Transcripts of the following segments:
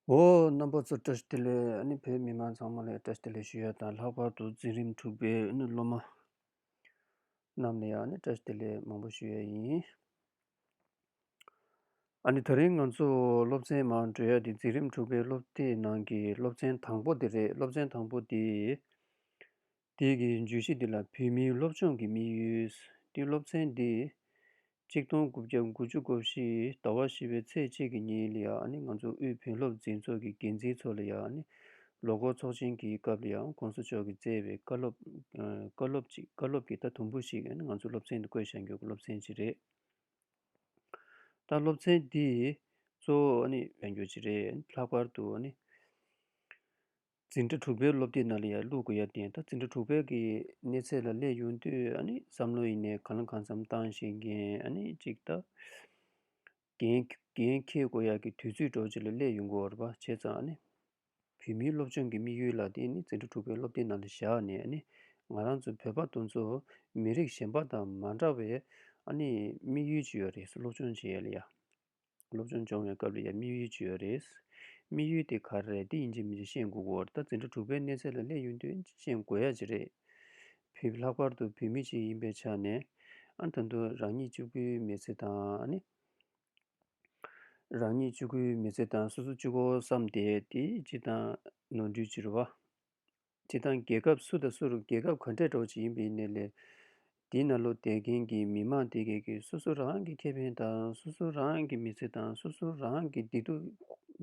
འོ། རྣམ་པ་ཚོ་བཀྲ་ཤིས་བདེ་ལེགས་ཨ་ནི་བོད་མི་མང་ཚང་མ་ལ་བཀྲ་ཤིས་བདེ་ལེགས་ཞུ་ཡ་དང་ལྷག་པར་དུ་འཛིན་རིམ་དྲུག་པའི་ཨ་ནི་སློབ་མ་རྣམས་ལ་ཡང་ཨ་ནི་བཀྲ་ཤིས་བདེ་ལེགས་མང་པོ་ཞུ་ཡ་ཡིན། ཨ་ནི་ད་རིང་ང་ཚོ་སློབ་ཚན་མང་བགྲོས་ཡ་དེ་འཛིན་རིམ་དྲུག་པའི་སློབ་དེབ་ནང་གི་སློབ་ཚན་དང་པོ་དེ་རེད་སློབ་ཚན་དང་པོ་དེ། དེ་གའི་བརྗོད་གཞི་འདི་ལ་བོད་མིའི་སློབ་སྦྱོང་གི་དམིགས་ཡུལ། ཏེ་སློབ་ཚན་འདི། གཅིག་སྟོང་དགུ་བརྒྱ་དགུ་བཅུ་གོ་བཞི་ཟླ་བ་བཞི་པའི་ཚེས་གཅིག་གི་ཉིན་ལ་ཡང་ང་ཚོ་དབུས་བོན་སློབ་འཛིན་ཚོགས་ཀྱི་འགན་འཛིན་ཚོ་ལ་ཡང་ལོ་འཁོར་ཚོགས་ཆེན་གྱི་སྐབས་ལ་ཡང ྋགོང་ས་མཆོག་གིས་བསྩལ་བའི་བཀའ་སློབ། བཀའ་སློབ་ཅིག་བཀའ་སློབ་ཀྱི་རྟགས་དུམ་བུ་ཞིག་ང་ཚོ་སློབ་ཚན་དུ་བཀོད་བཞག་རྒྱུ་སློབ་ཚན་ཅིག་རེད། ད་སློབ་ཚན་འདི་གཙོ་བོ་བོན་རྒྱུད་ཅིག་རེད། ལྷག་པར་དུ། འཛིན་གྲྭ་དྲུག་པའི་སློབ་དེབ་ནང་ལ་ཡར་ལུགས་དགོས་ཡ་བདེན་ད་འཛིན་གྲྭ་དྲུག་པའི་གི་གནས་ཚད་ལ་སླེབས་ཡོང་དུས་བསམ་བློ་ཡེ་ནས་གང་ལ་གང་འཚམ་བཏང་ཞིག་གན་ཅིག་ད། གན་ཁེ་དགོས་ཡ་གི་དུས་ཚོད་འགྲོ་ཆེ་ལ་སླེབས་ཡོང་གོ་བ་ར་བྱས་ཙང། བོད་མིའི་སློབ་སྦྱོང་གི་དམིགས་ཡུལ་ལ་དེ་འཛིན་གྲྭ་དྲུག་པའི་སློབ་དེབ་ནང་ལ་བཞག་ནས་ང་རང་ཚོ་བོད་པ་ཏུ་ཚོ་མི་རིགས་གཞན་པ་དང་མ་འདྲ་བའི་དམིགས་ཡུལ་ཅིག་ཡོད་རེད་སློབ་སྦྱོང་བྱས་ཡ་ལ་ཡ། སློབ་སྦྱོང་སྦྱོང་བའི་སྐབས་ལ་ཡང་དམིགས་ཡུལ་ཇི་ཡོད་རེད། དམིགས་ཡུལ་དེ་ག་རེ་རེད་འདི་ཡིན་གྱི་མིན་ཤེས་དགོས་སྐོར་ལྟ་འཛིན་གྲྭ་དྲུག་པའི་གནས་ཚད་ལ་སླེབས་ཡོང་དུས་ཤེས་དགོས་ཡ་ཇི་རེད། བུ་ལྷག་པར་དུ་བུད་མེད་ཅིག་ཡིན་པའི་ཆ་ནས། ཨ་ད་དུང་རང་ཉིད་སྤྱི་སྒོའི་མི་ཚེ་དང། རང་ཉིད་སྤྱི་སྒོའི་མི་ཚེ་དང་སོ་སོ་སྤྱི་སྒོ་བསམ་སྟེ་དེའི་སྤྱི་དང་ནོར་འཁྲུལ་ཅི་རེད་བ། སྤྱི་དང་རྒྱལ་ཁབ་སུ་དང་སུ་རུ་རྒྱལ་ཁབ་ག་འདྲས་གྲོགས་ཅིག་ཡིན་པའི་གནས་ལས། འདི་ན་ལོ་དད་མཁན་གྱི་མི་མང་དེ་གས་ཀྱིས་སོ་སོ་རང་གི་ཁེ་ཕན་དང་སོ་སོ་རང་གི་མི་ཚེ་དང་སོ་སོ་རང་གི་བདེ་སྡུག་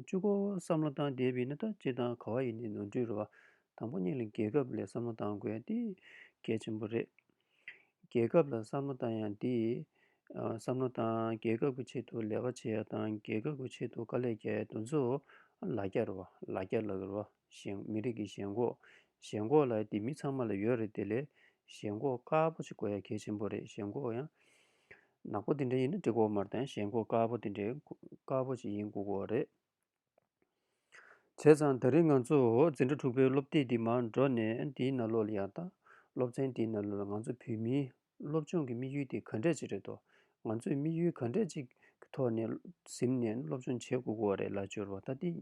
བཅུ་གོ་བསམ་བློ་བཏང་བསྡད་པའི་ན་ད་སྤྱི་དང་ག་བ་ཡིན་ནས་ནོར་འཁྲུལ་རེད་བ་དང་པོ་གཉིས་ལ་རྒྱལ་ཁབ་ལས་བསམ་བློ་བཏང་དགོས་འདི་གལ་ཆེན་པོ་རེད། རྒྱལ་ཁབ་ལ་བསམ་བློ་བཏང་ཡང་འདི། བསམ་བློ་བཏང་རྒྱལ་ཁབ་ཀྱི་ཆེད་དུ་ལས་བ་བྱས་ཡ་དང་རྒྱལ་ཁབ་ཀྱི་ཆེད་དུ་དཀའ་ལས་རྒྱག་ཡ་དུ་ཚོ་ལ་རྒྱ་རེད་བ་ལ་རྒྱ་ལ་རེད་བ། ཞེན། མི་རིགས་ཀྱི་ཞེན་ཁོག། ཞེན་ཁོག་ལ་འདི་མི་ཚང་མ་ལ་ཡོད་རེད་དེ་ལས། ཞེན་ཁོག་དཀར་པོ་ཞིག་དགོས་ཡ་གལ་ཆེན་པོ་རེད་ཞེན་ཁོག་ཡང། ནག་པོ་འདི་འདྲ་ཡིན་ན་འགྲིག་གོ་མར་དང་ཞེན་ཁོག་དཀར་པོ་འདི་འདྲ་དཀར་པོ་ཞིག་ཡིན་དགོས་གོ་རེད། བྱས་ཙང་ད་རིང་ང་ཚོ་འཛིན་གྲྭ་དྲུག་པའི་སློབ་དེབ་འདི་མར་འགྲོ་ནས་འདིའི་ནང་ལོག་ལ་ཡང་དང་སློབ་ཚན་འདིའི་ནང་ལོག་ལ་ང་ཚོ་བོད་མིའི་སློབ་སྦྱོང་གི་དམིགས་ཡུལ་དེ་ག་འདྲས་ཅིག་རེད་དོ། ང་ཚོས་དམིགས་ཡུལ་ག་འདྲས་ཅིག་གི་ཐོག་ནས་གཟིམ་ནས་སློབ་སྦྱོང་བྱེད་དགོས་གོ་རེད་ལ་སྦྱོར་བ་ད་འདི།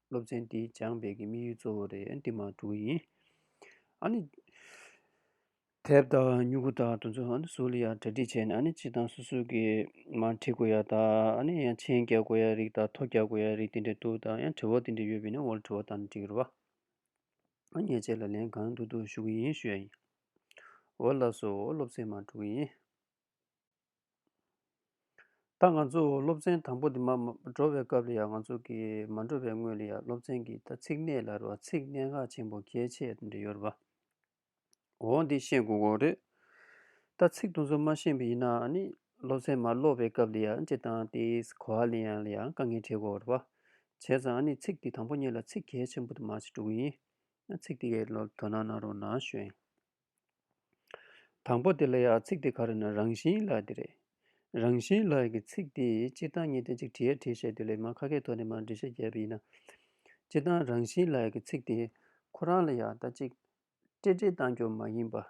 སློབ་ཚན་འདི་སྦྱངས་སྤེལ་གྱི་དམིགས་ཡུལ་གཙོ་བོ་རེད་འདི་མ་གྲུག་ཡིན། ཨཱ་ནི། དེབ་དང་སྨྱུ་གུ་དག་དུ་འཛུལ་ཨཱ་ནི་སུ་ལ་ཡང་གྲ་སྒྲིག་བྱས་ནས་ཨཱ་ནི་སྤྱི་དང་སུ་སུ་གི་མ་འཁྲིད་དགོས་ཡ་དག་ཨཱ་ནི་ཡང་མཆན་རྒྱག་དགོས་ཡ་རིགས་དང་ཐོ་རྒྱག་དགོས་ཡ་རིགས་དེ་འདྲ་འདུག་དང་ཡང་དྲི་བ་དེ་འདྲ་ཡོད་པས་ནི་འོ་ལ་དྲི་བ་དག་ནི་འདྲི་རོགས། ཨཱ་ནི་ངས་ཁྱེད་ལ་ལན་གང་འདུག་འདུག་ཞུ་གི་ཡིན་ཞུ་ཡ་ཡིན། འོ་ལགས་སོ་འོ་སློབ་ཚན་མ་གྲུག་ཡིན། ད་ང་ཚོ་སློབ་ཚན་དང་པོ་འདི་མ་འགྲོ་བའི་སྐབས་ལ་ཡང་ང་ཚོ་གི་མ་འགྲོ་བའི་སྔོན་ལ་ཡང་སློབ་ཚན་གྱི་ད་ཚིག་གནད་ལ་རོ་བ་ཚིག་གནད་འགག་ཆེན་པོ་གལ་ཆེ་འདི་ཡོད་རོ་བའོ། འདི་ཤེས་དགོས་དགོས་རེད། ད་ཚིག་དུ་ཚོ་མ་ཤེས་པ་ཡིན་ན་ནི་སློབ་ཚན་མ་སློབ་པའི་སྐབས་ལ་ཡང་ཅི་དང་དེའི་གོ་བ་ལ་ཡང་ལ་ཡང་དཀའ་ངལ་འཕྲད་དགོས་རོ་བ། བྱས་ཙང་ནི་ཚིག་འདི་དང་པོ་གཉིས་ལ་ཚིག་གལ་ཆེན་པོ་དུ་མ་ཞིག་འགྲོ་གི་ཡིན། ཚིག་འདི་གའི་ལོ་དོ་ན་ན་རོ་ན་གཞོན། དང་པོ་དེ་ལ་ཡང་ཚིག་དེ་ག་རེ་ན་རང་བཞིན་ལ་དེ་རེད། རང་བཞིན་ལ་གི་ཚིག་དེ་སྤྱི་དང་གཉིས་ལྡན་ཅིག་བྲི་ཡས་བྲིས་བཤད་དུས་ལས་མ་ཁ་ཁའི་ཐོག་ནས་མ་འབྲི་བཤད་རྒྱས་པ་ཡིན་ན། སྤྱི་དང་རང་བཞིན་ལ་གི་ཚིག་དེ་ཁོ་རང་ལ་ཡང་ད་ཅིག་སྤྲེ་སྤྲེ་གཏང་རྒྱུ་མ་ཡིན་པ།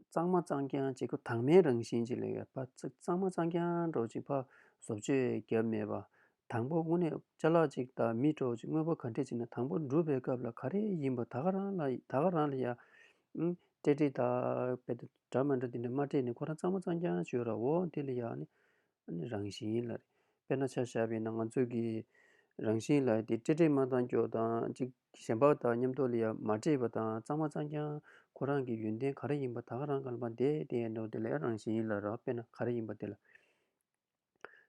གཙང་མ་གཙང་རྐྱང་ཅིག་གོ་དྭངས་མའི་རང་བཞིན་ཅིག་ལས་ག་ཚིག་གཙང་མ་གཙང་རྐྱང་སྒྲོག་ཅིག་ཕ་བཟོ་བཅོས་བརྒྱབ་མེད་པ་དང་པོ་དངོས་གནས་བཅའ་ལག་ཅིག་དང་མི་སྤྲོ་ཅིག་དངོས་པོ་ག་འདྲས་ཅིག་ན་དང་པོ་འགྲུབ་པའི་སྐབས་ལ་ག་རེ་ཡིན་པ་ད་ག་རང་ལ་ད་ག་རང་ལ་ཡང། སྤྲད་སྤྲད་ད་སྤད་སྤད་འདྲ་མ་འདྲ་དེ་འདྲ་མ་སྤྲད་ནས་ཁོ་རང་གཙང་མ་གཙང་རྐྱང་བྱོས་ར་འོ་དེ་ལ་ཡང་ནི་རང་བཞིན་ལ་རེད། དཔེར་ན་ཆ་བཞག་པས་ན་ང་ཚོ་གི་རང་བཞིན་ལ་དེ་སྤྲད་སྤྲད་མ་གཙང་སྐྱོ་དང་ཅིག་གཞན་པ་དང་མཉམ་དུ་ལ་ཡང་མ་སྤྲད་པ་དང་གཙང་མ་གཙང་རྐྱང་ཁོ་རང་གི་ཡོན་ཏན་ག་རེ་ཡིན་པ་ད་ག་རང་ག་ལ་མ་འདས་དེ་ཡང་འདོད་དེ་ལ་ཡང་རང་བཞིན་ལ་ར་དཔེར་ན་ག་རེ་ཡིན་པ་དེ་ལ།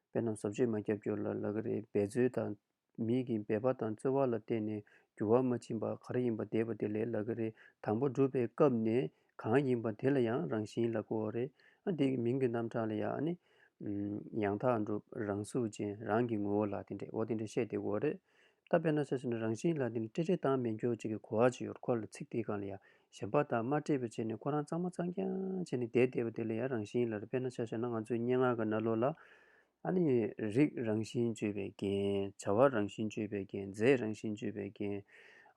དཔེ་རྣམས་བཟོ་བཅོས་མ་རྒྱབ་སྐྱོར་ལ་ལག་རེས་འབད་རྩོལ་དང། མིག་གིས་འབད་པ་དང་རྩོལ་བ་ལ་བརྟེན་ནས་འགྱུར་བ་མ་ཕྱིན་པ་ག་རེ་ཡིན་པ་འདས་པ་དེ་ལས་ལག་རེས་དང་པོ་སྒྲུབ་པའི་སྐབས་ནས་གང་ཡིན་པ་དེ་ལ་ཡང་རང་བཞིན་ལ་གོ་བ་རེ། དེ་ཡི་མིང་གི་རྣམ་གྲངས་ལ་ཡང། ཡང་དག་འགྲུབ་རང་གཟུགས་ཅན་རང་གི་ངོ་བོ་ལ་དེ་འདྲའོ་དེ་འདྲ་བཤད་དེ་གོ་བ་རེ། ད་དཔེར་ན་ཚེ་སྲོག་ནི་རང་བཞིན་ལ་དེ་ནི་སྤྲེལ་སྤྲེལ་དང་མེ་འགྱོགས་བྱེད་ཀྱི་གོ་བ་ཅི་ཡོད་ཁོ་ལ་ཚིག་དེའི་སྒང་ལ་ཡང་ཞེན་པ་དང་མ་སྤྲེལ་བའི་ཆེད་ནས་ཁོ་རང་གཙང་མ་གཙང་རྐྱང་བྱས་ནས་བསྡད་བསྡད་པ་དེ་ལ་ཡང་རང་བཞིན་ལ་རེད་དཔེར་ན་ཆ་ཤས་ན་ང་ཚོའི་སྙན་ངག་གི་རྣ་ལོ་ལ། ཨ་ནི། རིགས་རང་བཞིན་བཅོས་པའི་རྒྱན། བྱ་བ་རང་བཞིན་བཅོས་པའི་རྒྱན་རྫས་རང་བཞིན་བཅོས་པའི་རྒྱན།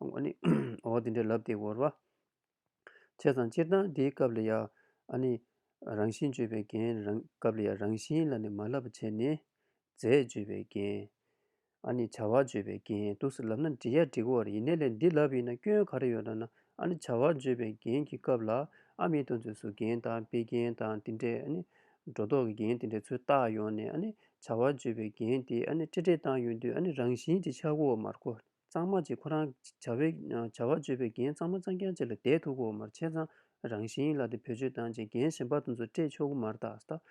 འོ་ནི། འོ་འོ་འདི་འདྲའི་ལབ་སྟེགས་བོར་བ། བྱས་ཙང་སྤྱིར་བཏང་དེའི་སྐབས་ལ་ཡང། ཨ་ནི། རང་བཞིན་བརྗོད་པའི་རྒྱན། སྐབས་ལ་ཡང་རང་བཞིན་ལ་ནི་མ་བསླབ་པ་བྱས་ནས། རྫས་བརྗོད་པའི་རྒྱན། ཨ་ནི་བྱ་བ་བརྗོད་པའི་རྒྱན་དུ་སུ་ལབ་ན་འབྲི་ཡ་འབྲི་གོ་བར་ཡེ་ནས་ལས་འདི་ལབ་ཡིན་ན་སྐྱོན་ག་རེ་ཡོད་ན་ན་ཨ་ནི་བྱ་བ་བརྗོད་པའི་རྒྱན་གྱི་སྐབས་ལ་ཨ་མི་དོན་ཚུལ་སུ་རྒྱན་དང་དཔེ་རྒྱན་དང་དེ་འདྲའི་ཨ་ནི། སྒྲོ་འདོགས་ཀྱི་རྒྱན་དེ་འདྲའི་ཚུལ་བཏགས་ཡོང་ནས་ཨ་ནི་བྱ་བ་བརྗོད་པའི་རྒྱན་དེ་ཨ་ནི་ཏྲེ་ཏྲེ་བཏང་ཡོང་དུས་ཨ་ནི་རང་བཞིན་གྱི་ཆག་གོ་བ་མར་གོ། གཙང་མ་བཅས་ཁོ་རང་བྱ་བའི་བྱ་བ་སྤྱོད་པའི་རྒྱན་གཙང་མ་གཙང་རྒྱན་བཅས་ལ་བསྡད་ཐུག་གོ་མར་ཆས་གཙང་རང་བཞིན་ཡིན་ལ་དེ་བེད་སྤྱོད་བཏང་རྗེས་རྒྱན་གཞན་པ་དང་མཛོད་སྤྲས་ཆོག་གོ་མར་བཏགས་སྟབས།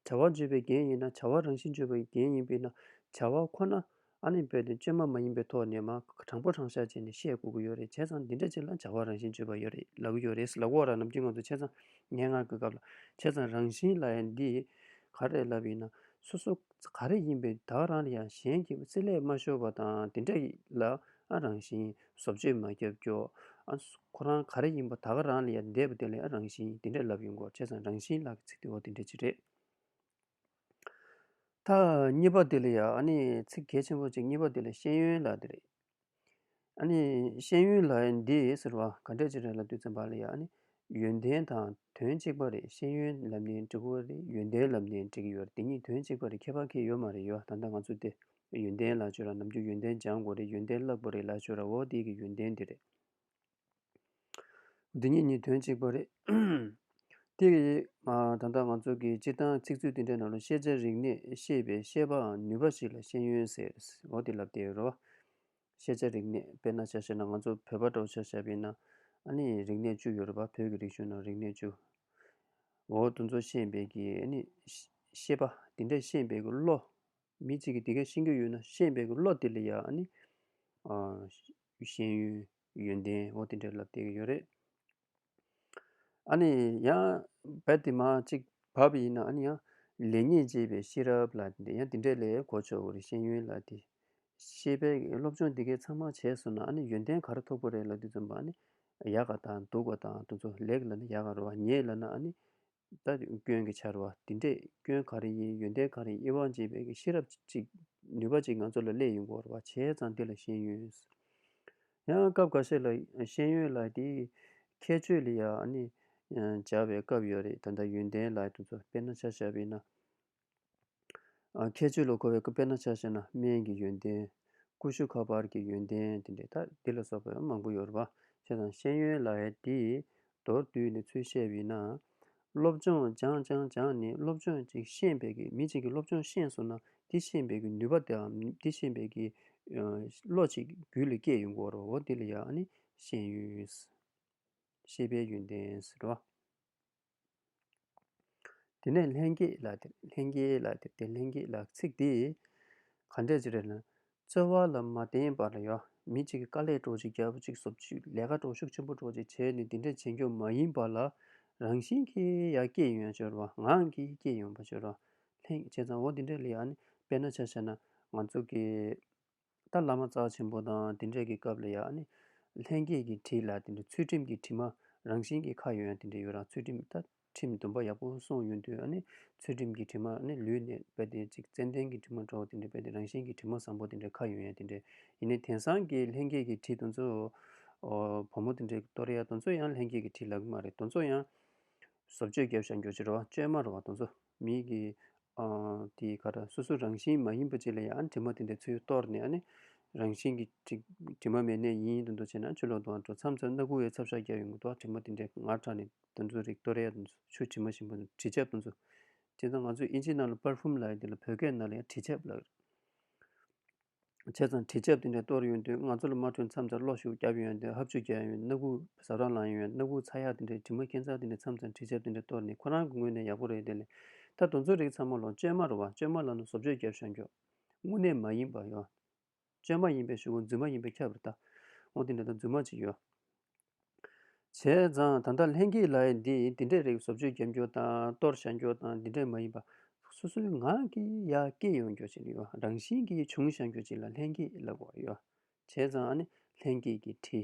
བྱ་བ་སྤྱོད་པའི་རྒྱན་ཡིན་ན་བྱ་བ་རང་བཞིན་སྤྱོད་པའི་རྒྱན་ཡིན་པས་ན་བྱ་བ་ཁོ་ན་ཨ་ནི་བོད་དོན་བཅོས་མ་མ་ཡིན་པའི་ཐོག་ནས་མ་དྲང་པོ་དྲང་བཞག་བྱས་ནས་བཤད་དགོས་ཀྱི་ཡོད་རེད་བྱས་ཙང་འདི་འདྲ་བྱས་ལ་བྱ་བ་རང་བཞིན་སྤྱོད་པ་ཡོད་རེད་ལབ་ཀྱི་ཡོད་རེད་ལབ་གོ་ར་ནམ་རྒྱུན་ང་ཚོ་བྱས་ཙང་སྙན་ངག་གི་སྐབས་ལ་བྱས་ཙང་རང་བཞིན་ལ་ཡང་འདིས་ག་རེ་ལབ་ཡིན་ན་སོ་སོ་ག་རེ་ཡིན་པས་བདག་རང་ལ་ཡང་གཞན་གྱི་རྩེ་ལས་མ་ཤོར་བ་དང་དེ་འདྲ་ལ་ཨ་རང་བཞིན་བཟོ་བཅོས་མ་རྒྱབ་ཀྱོག་ཁོ་རང་ག་རེ་ཡིན་པ་བདག་རང་ལ་ཡང་འདས་པ་དེ་ལས་ཨ་རང་བཞིན་དེ་འདྲ་ལབ་ཡོང་གོ་བྱས་ཙང་རང་བཞིན་ལག་གི་ཚིག་དེ་འོ་དེ་འདྲ་ཅི་རེད། ཐ་སྙད་པ་དེ་ལ་ཡང་ཨ་ནི་ཚིག་གལ་ཆེན་པོ་གཅིག་སྙད་པ་དེ་ལ་ཤེས་ཡོན་ལ་དེ་རེད། ཨཱ་ནི། ཤེས་ཡོན་ལ་ཡིན་འདི་ཟེར་བ་ག་འདྲས་ཅི་རེད་ལབ་དུས་ཚན་པ་ལ་ཡང་ཨཱ་ནི། ཡོན་ཏན་དང་དོན་གཅིག་པ་རེད་ཤེས་ཡོན་ལབ་ནས་འགྲིག་གོ་རེད་ཡོན་ཏན་ལབ་ནས་འགྲིག་གི་ཡོད་རེད་དེ་གཉིས་དོན་གཅིག་པ་རེད་ཁྱད་པར་ཁྱད་ཡོད་མ་རེད་ཡོད་ད་ལྟ་ང་ཚོ་དེ། ཡོན་ཏན་ལ་སྤྱོད་ལ་ནམ་རྒྱུན་ཡོན་ཏན་སྦྱང་དགོ་རེད་ཡོན་ཏན་བརླག་པ་རེད་ལ་སྤྱོད་ར་འོ་དེའི་གི་ཡོན་ཏན་འདི་རེད། འདི་གཉིས་ནི་དོན་གཅིག་པ་རེད། དེ་ཡིས་ད་ལྟ་ང་ཚོ་གིས་སྤྱིར་བཏང་ཚིག་མཛོད་འདི་འདྲའི་ནང་ལ་ཤེས་བྱ་རིག་གནས་ཤེས་པའི་ཤེས་པའང་ནུས་པ་ཞིག་ལ་ཤེས་ཡོན་ཟེར་རོ་དེ་ལབ་བསྡད་ཡོད་རོ། ཤེས་བྱ་རིག་གནས་དཔེར་ན་ཆ་ཤས་ན་ང་ཚོ་བོད་པ་འདྲ་བོ་ཆ་ཤས་པའི་ནང་ནི་རིག་གནས་བཅུ་ཡོད་རེད་པ་བོད་ཀྱི་རིག་གཞུང་ནང་རིག་གནས་བཅུ། འོ་དུ་མཚོ་ཤེས་འབད་ཀྱི་ཤེས་པ་དེ་འདྲས་ཤེས་འབད་ཀྱི་བློ། མི་གཅིག་གིས་དེ་ག་ཤེས་ཀྱི་ཡོད་ན་ཤེས་འབད་ཀྱི་བློ་དེ་ལ་ཡང། ཤེས་ཡོན་ཡོན་ཏན་འོ་དེ་འདྲའི་ལ་བལྟས་ཀྱི་ཡོད་རེད། ཨ་ནི་ཡང་བལ་དེ་མ་གཅིག་བབ་ཡིན་ན་ཨ་ནི་ཡང་ལེགས་ཉེས་འབྱེད་པའི་ཤེས་རབ་ལ་དེ་ཡང་དེ་འདྲའི་ལས་གོ་ཆོག་གི་རེད་ཤེས་ཡོན་ལ་དེ། ཤེས་པའི་སློབ་སྦྱོང་དེ་གས་ཚང་མ་བྱས་སོང་ན་ཨ་ནི་ཡོན་ཏན་ག་རེ་ཐོབ་ཀྱི་རེད་ལ་དེ་ཙམ་པ་ཨ་ནི་ཡག་ག་དང་སྡུག་ག་དང་དུ་ཚོད་ལེགས་ལ་ནི་ཡག་ག་རེ་བ་ཉེས་ལ་ན་ཨ་ནི་ལྟ་སྐྱོན་གྱི་ཕྱར་བ་འདི་འདྲས་སྐྱོན་ག་རེ་ཡིན་ཡོན་ཏན་ག་རེ་ཡིན་དབྱེ་བ་འབྱེད་པའི་གྱི་ཤེས་རབ་གཅིག་ནུས་པ་གཅིག་ང་ཚོ་ལ་སླད་ཡོད་འགོར་བ་བྱས་ཙང་འདི་ལ་ཤེས་ཡོན། ཡང་སྐབས་ག་ཤེད་ལ་ཤེས་ཡོན་ལ་དེའི་ཁྱད་ཆོས་ལ་ཡང་ནི་སྦྱར་བའི་སྐབས་ཡོད་རེད་ད་ལྟ་ཡོན་ཏན་ལ་དེ་ཚོ་དཔེར་ན་ཆ་བྱ་བས་ན་ཁྱད་ཆོས་ལ་གོ་བའི་སྐུ་དཔེར་ན་ཕྱག་བྱས་ན་སྨན་གྱི་ཡོན་ཏན། ཀུ་ཤུ་ཁ་པར་གྱི་ཡོན་ཏན་དེ་འདྲའི་དག་འདི་ལ་སོགས་པའི་མང་པོ་ཡོད་རེད་པ། ཞེས་དང་ཤེས་ཡོན་ལ་ཡེ་དེས་མདོར་བསྡུས་ནས་ཚུལ་བཤད་བས་ན། སློབ་སྦྱོང་སྦྱངས་སྦྱངས་སྦྱངས་ནི་སློབ་སྦྱོང་ཅིག་ཤེས་འབད་ཀྱིས་མི་གཅིག་གིས་སློབ་སྦྱོང་ཤེས་སོང་ན་དེ་ཤེས་འབད་ཀྱི་ནུས་པ་དེའམ་དེ་ཤེས་འབད་ཀྱི་བློ་གཅིག་རྒྱུད་ལ་སྐྱེས་ཡོད་དགོས་རོ་འདི་ལ་ཡང་ཤེས་ཡོན། ཤེས་པའི་ཡོན་ཏན་ཟེར་རོ། དེ་ནས་ལྷན་སྐྱེས་ལ་དེར་ལྷན་སྐྱེས་ལ་དེར་ཏེ་ལྷན་སྐྱེས་ལ་ཚིག་འདི། ག་འདྲས་ཅི་རེད་ན། རྩོལ་བ་ལ་མ་བརྟེན་པར་ཡང་མི་གཅིག་གིས་དཀའ་ལས་གྲོགས་གཅིག་རྒྱལ་པོ་གཅིག་ཟོབ་གཅིག་ལས་ཀ་གྲོགས་ཤུགས་ཆེན་པོ་གྲོགས་གཅིག་བྱས་ནས་འདི་འདྲའི་བྱེད་འགྱོ་མ་ཡིན་པ་ལ། རང་བཞིན་གྱིས་ཡ་སྐྱེས་ཡོན་སྦྱོར་བ་ངང་གིས་སྐྱེས་ཡོན་པ་སྦྱོར་བ། ལྷན་སྐྱེས་བྱས་ཙང་འོ་འདི་འདྲའི་ལས་ཡ་ནི་དཔེར་ན་ཆ་བྱས་ན་ང་ཚོ་གི། ད་བླ་མ་རྩ་ཆེན་པོ་དང་དེ་འདྲས་ཀྱི་སྐབས་ལ་ཡང་ནི། ལྷན་སྐྱེས་ཀྱི་དྲི་ལ་དེ་འདྲའི་ཚུལ་ཁྲིམས་ཀྱི་དྲི་མ་རང་བཞིན་གྱི་ཁ་ཡོད་ཡང་དེ་འདྲའི་ཡོད་རང་ཚུལ་ཁྲིམས་ལྟ་ཁྲིམས་དུམ་པ་ཡག་པོ་སོང་ཡོད་དུས་ནི་ཚུལ་ཁྲིམས་ཀྱི་དྲི་མ་ནི་ལུས་ནས་བས་ཏེ་གཅིག་ཙན་དན་གྱི་དྲི་མ་གྲོགས་དེ་འདྲས་བས་ཏེ་རང་བཞིན་གྱི་དྲི་མ་བཟང་པོ་དེ་འདྲའི་ཁ་ཡོད་ཡང་དེ་འདྲའི་ཡིན་ནི་དེང་སང་གི་ལྷན་སྐྱེས་ཀྱི་དྲི་དོན་གཙོ། བུ་མོ་དེ་འདྲས་ཀྱི་ཏོར་ཡ་དོན་གཙོ་ཡང་ལྷན་སྐྱེས་ཀྱི་དྲི་ལག་གི་མ་རེད་དོན་གཙོ་ཡང། བཟོ་བཅོས་རྒྱབ་བཞག་འགྱོ་ཕྱིར་རོ་བཅོས་མ་རུ་བ་དོན་གཙོ། མིག་གིས་དེ་ག་ལ་སོ་སོ་རང་བཞིན་མ་ཡིན་པ་ཅིག་ལ་ཡང་དྲི་མ་དེ་འདྲའི་ཚུལ་གཏོར་ནས་ནི། རང་བཞིན་གྱི་དྲི་མ་མེད་གནས་ཡིན་དུ་འདུ་བྱས་ན་ཆུ་ལོག་དུའང་འགྲོ་མཚམས་སུ་སྣ་དགུ་བའི་ཚབ་ཤ་རྒྱགས་ཡོང་གི་འདུག་དྲི་མ་དེ་འདྲའི་ངར་དྲགས་ནས་དུ་འཛུལ་རིགས་སྟོད་རའི་ཆུ་དྲི་མ་བཞིན་པོ་དྲི་ཆབ་དུ་འཛུལ། དེ་ཚོ་ང་ཚོས་ཨིན་ཇི་ནང་ལ་པར་ཧྥུམ་ལ་ཡོད་དེ་ལ་བོད་སྐད་ནང་ལ་ཡང་དྲི་ཆབ་ལ་ཡོད། བྱས་ཙང་དྲི་ཆབ་དེ་འདྲ་གཏོར་ཡོང་དུས་ང་ཚོ་ལ་མ་འཕྲོད་མཚམས་ལྟར་གློག་ཤུགས་བརྒྱབ་ཡོང་དུས་ཧབ་ཆུ་བརྒྱབ་ཡོང་སྣ་ཁུག་ཟབ་རར་ལངས་ཡོང་སྣ་ཁུག་ཚ་ཡག་དེ་འདྲའི་དྲི་མ་ཁེངས་ཙང་དེ་འདྲའི་མཚམས་ཙམ་དྲི་ཆབ་དེ་འདྲ་གཏོར་ནས་ཁོ་རང་གི་ངོས་ནས་ཡག་པོ་རེད་དེ་ལས་ད་དུང་ཚོ་རིག་ཚང་མ་ལོངས་སྤྱོད་མ་རུ་བ་སྤྱོད་མ་ལ་ནུ་བཟོ་བཅོས་བརྒྱབ་ཤོག་འགྱོགས་དངོས་གནས་མ་ཡིན་པ་ཡོད་སྤྱོད་མ་ཡིན་པའི་ཞུ་གོ་རྫུན་མ་ཡིན་པའི་ཁྱབ་རེད་ད་འོང་དེ་འདྲ་ད་རྫུན་མ་ཅིག་ཡོད། བྱས་ཙང་ད་ལྟ་ལྷན་སྐྱེས་ལ་ཡིན་འདི་ཡིན་དེ་འདྲའི་རིགས་བཟོ་བཅོས་རྒྱབ་སྐྱོར་དང་གཏོར་བཤགས་རྒྱུ་དང་འདི་འདྲའི་མ་ཡིན་པ། སོ་སོའི་ངང་གིས་ཡར་སྐྱེད་ཡོང་རྒྱུ་ཅིག་ཡོད་རང་བཞིན་གྱིས་བྱུང་བཞག་རྒྱུ་ཅིག་ལ་ལྷན་སྐྱེས་ལབ་དགོས་ཡོད། བྱས་ཙང་ནི་ལྷན་སྐྱེས་ཀྱི་ཁྲི།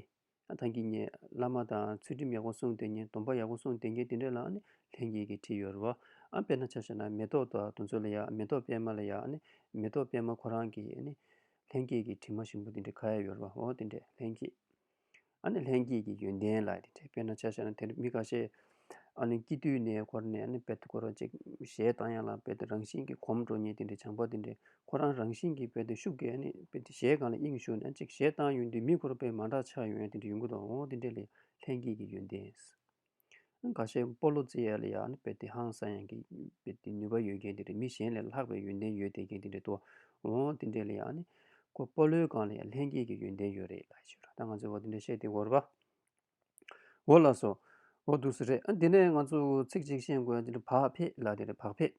ཐང་གི་གཉེར། བླ་མ་དང་ཚུལ་ཁྲིམས་ཡག་པོ་སྲུང་དེ་གཉེར་སྡོམ་པ་ཡག་པོ་སྲུང་དེ་གཉེར་དེ་འདྲའི་ལ་ནི་ལྷན་སྐྱེས་ཀྱི་ཁྲི་ཡོད་རེད་བ། དཔེར་ན་ཆ་བྱས་ན་མེ་ཏོག་དང་དུང་མཚོ་ལ་ཡག་མེ་ཏོག་པད་མ་ལ་ཡག་མེ་ཏོག་པད་མ་ཁོ་རང་གིས་ནི། ལྷན་སྐྱེས་ཀྱི་ཁྲི་མ་ཞིམ་པོ་དེ་འདྲའི་ཁ་ཡ་ཡོད་རེད་བ་འོ་དེ་འདྲའི་ལྷན་སྐྱེས། ཨ་ནི་ལྷན་སྐྱེས་ཀྱི་ཡོན་ཏན་ལ་དེ་འདྲའི་དཔེར་ན་ཆ་བཞག་ན་དེ་རུ་མི་ཁ་ཤས་ཨ་ནི་སྐྱིད་དུས་ནས་འཁོར་ནས་ཨ་ནི་དཔལ་དུ་འཁོར་བ་ཅིག་གཞལ་བཏང་ཡང་ལ་དཔལ་དུ་རང་བཞིན་གྱིས་གོམས་འགྲོ་ཉེན་དེ་འདྲའི་བྱང་པ་དེ་འདྲའི་ཁོ་རང་རང་བཞིན་གྱིས་དཔལ་དུ་ཤུགས་ཀྱིས་ཨ་ནི་དཔལ་དེ་གཞལ་གང་ལ་དབྱིངས་ཞུགས་ནས་ཅིག་གཞལ་བཏང་ཡུན་དུས་མི་འཁོར་བས་མ་འདྲ་ཆགས་ཡོན་ཏན་དེ་འདྲའི་ཡོན་གྱི་དོ་དེ་འདྲའི་ལས་ལྷན་སྐྱེས་ཀྱི་ཡོན་ཏན། འགའ་ཤས་སྤོ་ལོ་ཙེ་ཡཱ་ལི་ཡཱ་ནི་པེ་ཏི་ཧང་སང་ཡང་གི་ནུས་པ་ཡོད་མཁན་དེ་རེད་མི་གཞན་ལས་ལྷག་པའི་ཡོན་ཏན་ཡོད་བསྡད་མཁན་དེ་རེད་དོ། འོང་དེ་འདྲས་ལ་ཡང་ནི། ཁོ་སྤོ་ལོའི་སྒང་ལ་ཡང་ལྷན་སྐྱེས་ཀྱི་ཡོན་ཏན་ཡོད་རེད་ལགས་ཞུ། ད་ང་ཚོས་འོ་དེ་འདྲས་བཤད་དེ་འོར་བ། འོ་ལགས་སོ། འོ་འདུག་སུ་རེད། དེ་ནས་ང་ཚོས་ཚིག་གཅིག་ཤེས་དགོས་འདི་འདྲ་བག་ཕེབས་ལ་དེ་རེད་བག་ཕེབས།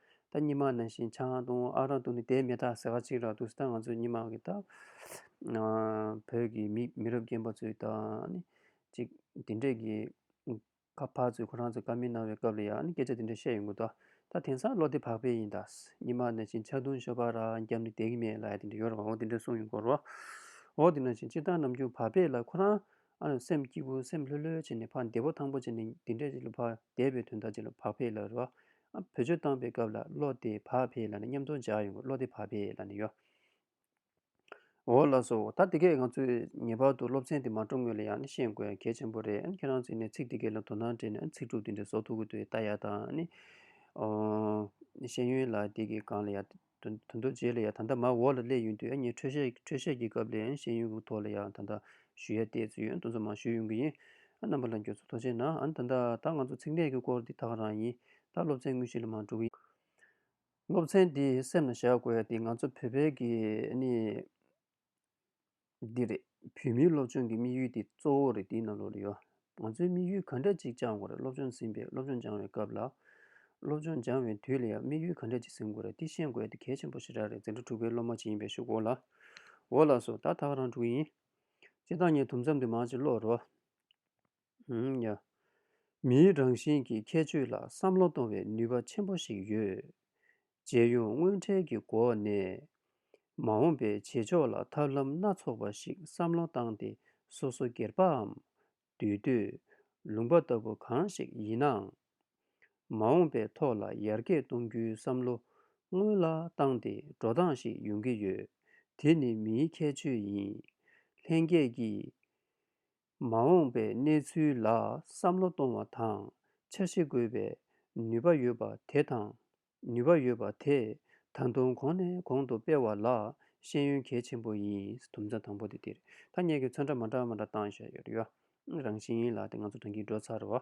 ད་སྙི་མ་ནང་བཞིན་ཆ་ཧང་ཏུང་ཨ་རང་ཏུ་ནི་དེའི་མེ་སྟག་ཟེ་ག་ཅིག་རག་འདུག་ད་ང་ཚོའི་སྙི་མ་གི་སྟག་བོད་ཀྱི་མི་མི་རབས་རྒན་པ་ཚོའི་ད་ནི་ཅིག་དེ་འདྲས་ཀྱི་ཁ་ཕག་ཚོས་ཁོ་རང་ཚོ་ཀ་མེད་གནང་བའི་སྐབས་ལ་ཡང་ནི་སྐད་ཆ་དེ་འདྲས་བཤད་ཡོང་གི་འདུག་ད་དེང་སང་བློ་བདེ་བག་ཕེབས་ཡིན་ད་སྙི་མ་ནང་བཞིན་ཆ་ཏུང་ཤོ་པ་རག་རྒྱབ་ནི་དེ་གི་མེད་ལ་ཡ་དེ་འདྲས་ཡོད་རེད་བ་འོ་དེ་འདྲས་གསུངས་ཡོང་གི་རོགས་འོ་དེ་ནང་བཞིན་སྤྱིར་བཏང་ནམ་རྒྱུན་བག་ཕེབས་ལ་ཁོ་རང་ཨ་རང་སེམས་སྐྱིད་པོ་སེམས་ལྷོད་ལྷོད་བྱས་ནས་བག་བདེ་པོ་ཐང་པོ་བྱས་ནས་དེ་འདྲས་ཅིག་ལ་བག་བདེ་བའི་དོན་དག་ཅིག་ལ་བག་ཕེབས་ལ་རེད་བ། བོད་ཆོས་བཏང་པའི་སྐབས་ལ་བློ་བདེ་བག་ཕེབས་ལ་ནི་མཉམ་དུ་འཇགས་ཡོང་གི་བློ་བདེ་བག་ཕེབས་ལ་ནི་ཡོད། འོ་ལགས་སོ། ད་དེ་གས་ང་ཚོས་ངེས་པར་དུ་སློབ་ཚན་དེ་མ་སྤྲོ་དངོས་ལ་ཡང་ནི་ཤེས་དགོས་གལ་ཆེན་པོ་རེད་ཁྱེད་རང་ཚོས་ནི་ཚིག་དེ་གས་ལ་དོ་སྣང་བྲེད་ནས་ཚིག་གྲུབ་དེ་འདྲའི་བཟོ་ཐུབ་ཀི་འདུག་ད་ཡག་དང་ནི། ཤེས་ཡོན་ལ་དེ་གས་གང་ལ་ཡག། དོན་དུ་རྡོ་རྗེ་ལ་ཡང་ད་ལྟ་མ་འོག་ལ་སླད་ཡུན་དུ་ཡང་ངས་འཕྲོས་བཤད་འཕྲོས་བཤད་ཀྱི་སྐབས་ལ་ཡང་ཤེས་ཡོན་གྱི་ཐོག་ལ་ཡང་ད་ལྟ་ཞུ་ཡ་བལྟས་ཚེ་ཡོན་ཏན་ཚོ་མང་ཤོས་ཡོང་གི་ཡིན། རྣམ་པ་ལ་འགྱོད་ཚོད་ཐོ་ཆེ་ན་ཨ་ན་ད་ད་ང་ཚོ་ཚིག་གནས་ཀྱི་སྐོར་འདི་དག་རང་ཡིན་ད་སློབ་ཚན་དངོས་གཞི་ལ་མ་འགྲོ་གི། སློབ་ཚན་འདི་སེམས་ལ་བཞག་དགོས་ཏེ་ང་ཚོ་བོད་པའི་གི་ཨ་ནི། འདི་རེད། བོད་མིའི་སློབ་སྦྱོང་གི་དམིགས་ཡུལ་དེ་གཙོ་བོ་རེད་འདི་རྣམས་བློ་ལ་ཡོད། ང་ཚོའི་དམིགས་ཡུལ་ག་འདྲ་ཅིག་བཅང་དགོས་རེད་སློབ་སྦྱོང་ཟིན་པའི་སློབ་སྦྱོང་སྦྱང་བའི་སྐབས་ལ། སློབ་སྦྱོང་སྦྱང་བའི་དུས་ལ་ཡང་དམིགས་ཡུལ་ག་འདྲ་ཅིག་ཟིན་དགོས་རེད་འདི་ཤེས་དགོས་ཨེ་འདི་གལ་ཆེན་པོ་ཞེ་དྲག་རེད་འཛིན་གྲྭ་དྲུག་པའི་སློབ་མ་ཅིག་ཡིན་པའི་ཞུ་འོ་ལ། འོ་ལགས་སོ་ད་ད་ཁ་རང་དྲུག་ཡིན། སྤྱི་བདག་ངས་དུམ་མཚམས་དུ་མ་ཅིག་ཀློག་རོགས། མིའི་རང་བཞིན་གྱི་ཁྱད་ཆོས་ལ་བསམ་བློ་གཏོང་བའི་ནུས་པ་ཆེན་པོ་ཞིག་ཡོད། རྗེས་ཡོང་དངོས་འཕྲལ་གྱི་སྒོ་ནས་མ་འོངས་པའི་བྱེད་ཕྱོགས་ལ་ཐབས་ལམ་སྣ་ཚོགས་པ་ཞིག་བསམ་བློ་བཏང་སྟེ་སོ་སོ་སྒེར་པའམ་འདུས་སྡོད། ལུང་པ་ལྟ་བུ་གང་ཞིག་ཡིན་ནའང། མ་འོངས་པའི་ཐོག་ལ་ཡར་རྒྱས་གཏོང་རྒྱུའི་བསམ་བློ་སྔོན་ལ་བཏང་སྟེ་འགྲོ་སྟངས་ཤིག་ཡོང་གི་ཡོད། དེ་ནི་མིའི་ཁྱད་ཆོས་ཡིན། ལྷན་རྒྱས་ཀྱིས་མ་འོངས་པའི་གནས་ཚུལ་ལ་བསམ་བློ་གཏོང་བ་དང་འཆར་གཞི་འགོད་པའི་ནུས་པ་ཡོད་པ་དེ་དང་ནུས་པ་ཡོད་པ་དེ་ད་དུང་གོང་ནས་གོང་དུ་སྤེལ་བ་ལ་ཤེས་ཡོན་གལ་ཆེན་པོ་ཡིན། དུམ་ཚན་དང་པོ་དེ་དེར་ཐ་སྙད་ཀྱི་མཚོན་འདྲ་མ་འདྲ་མ་འདྲ་བཏང་བཞག་ཡོད་རེད། རང་བཞིན་ལ་དེ་ང་ཚོ་དྲང་གིས་འགྲོ་ཚར་བ།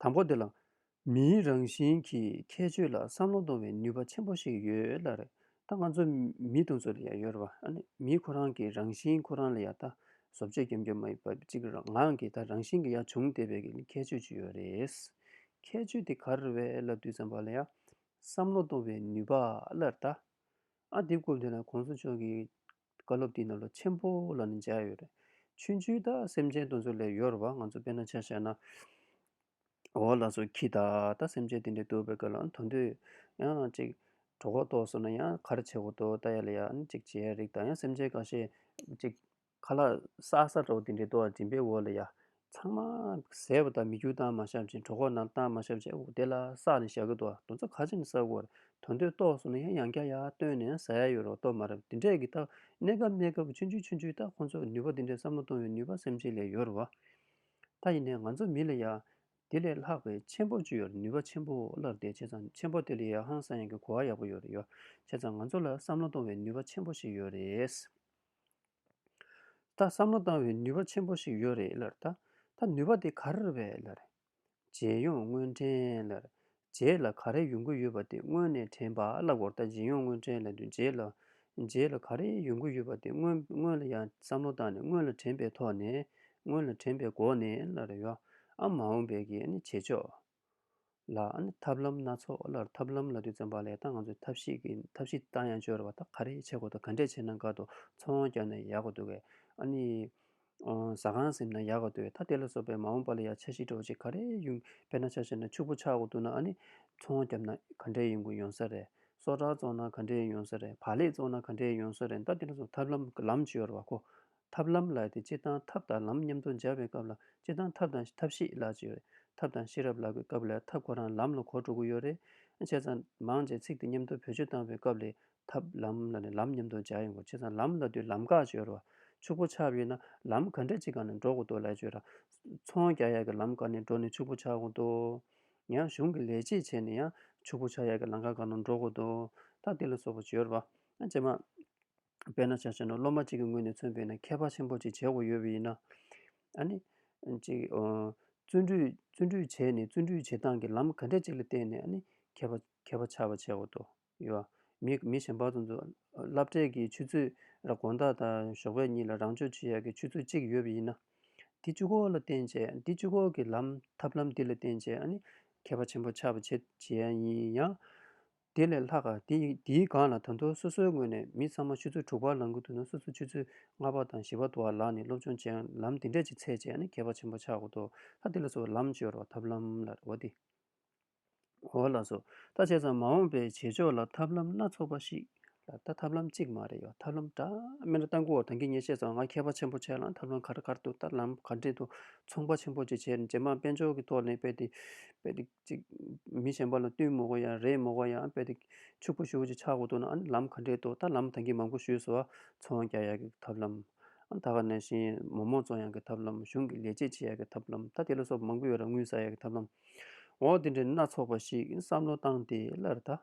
དང་པོ་འདི་ལ་མིའི་རང་བཞིན་གྱི་ཁྱད་ཆོས་ལ་བསམ་བློ་གཏོང་བའི་ནུས་པ་ཆེན་པོ་ཞིག་ཡོད་ལ་རེད་ད་ང་ཚོ་མི་དང་ཚོ་ལ་ཡང་ཡོད་རེད་བ་ཨ་ནི་མིའི་ཁོ་རང་གི་རང་བཞིན་ཁོ་རང་ལ་ཡང་ད་བཟོ་བཅོས་སྐྱོན་བརྗོད་མ་ཡོད་པ་གཅིག་རང་ངང་གིས་ད་རང་བཞིན་གྱི་ཡང་བྱུང་བལྟས་པའི་གི་ཁྱད་ཆོས་ཅིག་ཡོད་རེད། ཁྱད་ཆོས་དེ་ག་རེ་བས་ལ་དུས་བསམ་པ་ལ་ཡང་བསམ་བློ་གཏོང་བའི་ནུས་པ་ལ་རེད་ད་ཨ་འདི་སྐོར་འདི་ན་གོང་ས་མཆོག་གིས་བཀའ་སློབ་འདི་རྣམས་ལ་ཆེན་པོ་ལ་ནི་མཇལ་ཡོད་རེད། ཆོས་འཇུག་དག་སེམས་ཅན་དུ་ཚོད་ལས་ཡོར་བ་ང་ཚོ་དཔེར་ན་ཆ་བྱས་ན། འོ་ལགས་སོ་ཁྱི་དག་ད་སེམས་ཅན་དེ་འདྲའི་དུ་བའི་སྐད་ལ་དོན་དུ་ཡང་ཅིག་གྲོགས་ཁོག་ཏོག་ཟེར་ན་ཡང་ཁ་ར་ཆེ་གོ་ཏོ་ལྟ་ཡ་ལ་ཡ་ནི་ཅིག་བྱེད་ཡ་རིགས་དང་ཡང་སེམས་ཅན་ག་ཤེད་ཅིག་ཁ་ལག་སག་སག་གྲོགས་དེ་འདྲའི་ཏོ་བ་སྦྱིན་པའི་འོ་ལ་ཡ་ཚང་མ་ཟས་བ་དང་མི་རྒྱུ་སྟངས་མ་ཤམ་ཅིང་གྲོ་ཁོག་ནང་སྟངས་མ་ཤམ་ཅིག་ཨོ་དེ་ལ་བསགས་ནས་བཞག་གི་འདུག་དོན་ཚོ་ག་ཅིག་ནི་བསགས་དགོས་དོན་དོན་རྟོགས་སོང་ན་ཡང་ཡང་བསྐྱར་ཡར་བཏོན་ནས་བཟའ་ཡ་ཡོད་རོགས་གཏོར་མ་རབས་འདི་འདྲས་ཀྱི་རྟགས་གནས་སྐབས་གནས་སྐབས་ཆུན་ཆུན་ཆུན་ཆུན་རྟགས་ཁོ་ཚོས་ནུས་པ་འདི་འདྲས་བསམ་བློ་གཏོང་བའི་ནུས་པ་སེམས་ཅན་ལས་ཡོད་རོགས། ད་ཡིན་ནས་ང་ཚོ་མི་ལ་ཡང། དེ་ལས་ལྷག་པའི་ཆེན་པོ་བཅུ་ཡོད་ནུས་པ་ཆེན་པོ་སླར་བདེ་བྱེད་ཚང་ཆེན་པོ་དེ་ལས་ཡང་ཧང་སང་ཡང་གི་གོ་བ་ཡག་པོ་ཡོད་རེད་ཡོད་བྱས་ཙང་ང་ཚོ་ལ་བསམ་བློ་གཏོང་བའི་ནུས་པ་ཆེན་པོ་ཞིག་ཡོད་རེད། ད་བསམ་བློ་བཏང་བའི་ནུས་པ་ཆེན་པོ་ཞིག་ཡོད་རེད་ལར། ད་ནུས་པ་དེ་ག་རེ་རེད་ལར། རྗེས་ཡོང་དངོས་དྲན་ལར། རྗེས་ལ་ག་རེ་ཡོང་གི་ཡོད་པ་དེ་སྔོན་ནས་དྲན་པ་ལ་སྒོར་ད་རྗེས་ཡོང་དངོས་དྲན་ལ་འདུས་རྗེས་ལ། རྗེས་ལ་ག་རེ་ཡོང་གི་ཡོད་པ་དེ་སྔོན་སྔོན་ལ་ཡང་བསམ་བློ་བཏང་ནས་སྔོན་ལ་དྲན་པའི་ཐོག་ནས། སྔོན་ལ་དྲན་པའི་སྒོ་ནས་ལར། ཨ་མ་འོངས་པའི་གི་ནི་བྱེད་ཆོག། ལ། ཐབས་ལམ་སྣ་ཚོགས་ལར་ཐབས་ལམ་ལ་དུས་བཙོན་པ་ལས་ད་ང་ཚོས་ཐབས་ཤེས་ཀྱི་ཐབས་ཤེས་ད་ཡང་སྤྱོད་རོགས་ད་ག་རེ་བྱེད་དགོས་ད་ག་འདྲས་བྱས་ན་འགག་འདུག་འཚོ་བའང་བསྐྱལ་ན་ཡག་པོ་འདུག་གས། ཨ་ནི། ཟ་ཁང་ཟིན་ན་ཡག་ག་འདུག་གས་ད་དེ་ལ་སོགས་པའི་མ་འོངས་པ་ལ་ཡང་འཆར་གཞི་སྒྲོག་ཅིག་ག་རེ་ཡོང། དཔེར་ན་ཆ་བྱས་ན་ཕྱུག་པོ་ཆགས་དགོས་འདུག་ན་ཨ་ནི། འཚོ་བ་བསྐྱལ་ན་ག་འདྲས་ཡོང་དགོས་ཡོང་ས་རེད། སོ་ཁྲག་བཙོང་ན་ག་འདྲས་ཡོང་ས་རེད་བག་ལེབ་བཙོང་ན་ག་འདྲས་ཡོང་ས་རེད་ད་དེ་ལ་སོགས་ཐབས་ལམ་ལམ་སྤྱོད་རོགས། ཐབས་ལམ་ལ་དེ་སྤྱིར་བཏང་ཐབས་དང་ལམ་མཉམ་དུ་སྦྱར་བའི་སྐབས་ལ་སྤྱིར་བཏང་ཐབས་དང་ཐབས་ཤེས་ལ་ཅེས་རེད། ཐབས་དང་ཤེས་རབ་ལ་གི་སྐབས་ལས་ཐབས་ཁོ་རང་ལམ་ལ་གོ་དྲུག་གུ་ཡོད་རེད། བྱས་ཙང་མང་ཆེ་ཚིག་དེ་མཉམ་དུ་བེད་སྤྱོད་བཏང་བའི་སྐབས་ལས་ཐབས་ལམ་ལ་ནི་ལམ་མཉམ་དུ་སྦྱར་ཡོང་གོ་བྱས་ཙང་ལམ་ལ་དུས་ལམ་དགག་བཅོས་རོ། ཕྱུག་པོ་ཆགས་ཡོད་ན་ལམ་ག་འདྲས་ཅིག་གང་ནས་འགྲོ་དགོས་དོ་ལ་བཅོས་ར། ཚོང་རྒྱག་ཡག་གི་ལམ་ག་ནས་འགྲོ་ནས་ཕྱུག་པོ་ཆགས་དགོས་དོ། ཡང་གཞུང་གི་ལས་བྱེད་བྱས་ནས་ཡང་ཕྱུག་པོ་ཆགས་ཡག་གི་ལམ་ག་གང་ནས་འགྲོ་དགོས་དོ། ད་དེ་ལ་སོགས་པ་བཅོས་ར། ཇེ་མང། དཔེར་ན་བྱ་བྱེད་ནོར་སློབ་མ་གཅིག་གི་ངོས་ནས་མཚོན་དཔེ་ན་མཁས་པ་ཆེན་པོ་ཅིག་བྱེད་དགོས་ཡོད་པས་ཡིན། ཨ་ནི། གཅིག། བརྩོན་འགྲུས་བྱས་ནས་བརྩོན་འགྲུས་བྱེད་སྟངས་ཀྱི་ལམ་ག་འདྲ་ཅིག་ལ་བརྟེན་ནས་ཨ་ནི། མཁས་པ་ཆགས་པ་བྱེད་དགོས་དོ། ཡོད། མི་མི་གཞན་པ་ཚོ་ཚོ་བསླབ་གྲྭས་ཀྱི་ཆུ་ཚོད་ར་དགོན་བདག་དང་ཞོགས་པའི་གཉིས་ལ་རང་སྤྱོད་བྱེད་ཡག་གི་ཆུ་ཚོད་གཅིག་ཡོད་པས་ཡིན། འདི་བཅུ་སྐོར་ལ་བརྟེན་བྱས་འདི་བཅུ་སྐོར་གྱི་ལམ་ཐབས་ལམ་འདི་ལ་བརྟེན་བྱས་ཨ་ནི། མཁས་པ་ཆེན་པོ་ཆགས་པ་བྱེད་བྱེད་ཡ་ཡིན་ཡང། དེ་ལས་ལྷག་དེ་ཡིག་འདིའི་སྒང་ལ་དོན་ཐོག་སོ་སོའི་ངོས་ནས་མི་ཚང་མ་ཆུ་ཚོད་དྲུག་པར་ལངས་ཀྱི་འདུག་ན་སོ་སོ་ཆུ་ཚོད་ལྔ་པ་དང་བཞི་པ་འདུག་བ་ལགས་ནི་སློབ་སྦྱོང་བྱེད་ལམ་འདི་འདྲས་ཀྱི་ཚད་ཅན་ནི་གལ་བ་ཆེན་པོ་ཆགས་དགོས་ཏོ་ལྷ་འདི་ལ་སོ་ལམ་སྤྱོད་རོགས་ཐབས་ལམ་ལ་རེ་བ་འདི། འོ་ལགས་སོ་ད་བྱས་ཙང་མ་འོངས་པའི་བྱེད་ཕྱོགས་ལ་ཐབས་ལམ་སྣ་ཚོགས་པ་ཞིག་ལ་ད་ཐབས་ལམ་གཅིག་མ་རེད་ཡོད་ཐབས་ལམ་འདྲ་མེད་ན་ལྟ་མགུ་བ་དང་གིས་ངས་བཤད་ཙང་ང་མཁས་པ་ཆེན་པོ་བྱས་ལ་ཐབས་ལམ་ག་རེ་གར་འདུག་ད་ལམ་ག་འདྲས་འདུག་ཚོང་པ་ཆེན་པོ་ཅིག་བྱས་ནས་རྗེས་མ་དཔལ་འབྱོར་གྱི་ཐོག་ནས་དཔེ་དེ་དཔེ་དེ། ཅིག། མི་གཞན་པ་ལ་བསྟུན་མོ་གོ་ཡ་རེད་མོ་གོ་ཡ་འབད་དེ། ཕྱུག་པོ་ཞུ་ཅིག་ཆག་གོ་འདུག་ན་ཨ་ནི་ལམ་ག་འདྲས་འདུག་ད་ལམ་ཐང་གིས་མང་པོ་ཞུས་སོ། འཚོ་བ་རྒྱག་ཡ་གི་ཐབས་ལམ། ཨ་ད་ག་ནས་བཞིན་མོ་མོ་བཙོང་ཡ་གི་ཐབས་ལམ་གཞུང་གི་ལས་བྱེད་བྱེད་ཡ་གི་ཐབས་ལམ་ད་དེ་ལ་སོགས་པ་མང་པོ་ཡོད་ར་དངུལ་ཟ་ཡ་གི་ཐབས་ལམ། འོ་དེ་འདྲའི་སྣ་ཚོགས་པ་ཞིག་བསམ་བློ་བཏང་སྟེ་སླར་ད།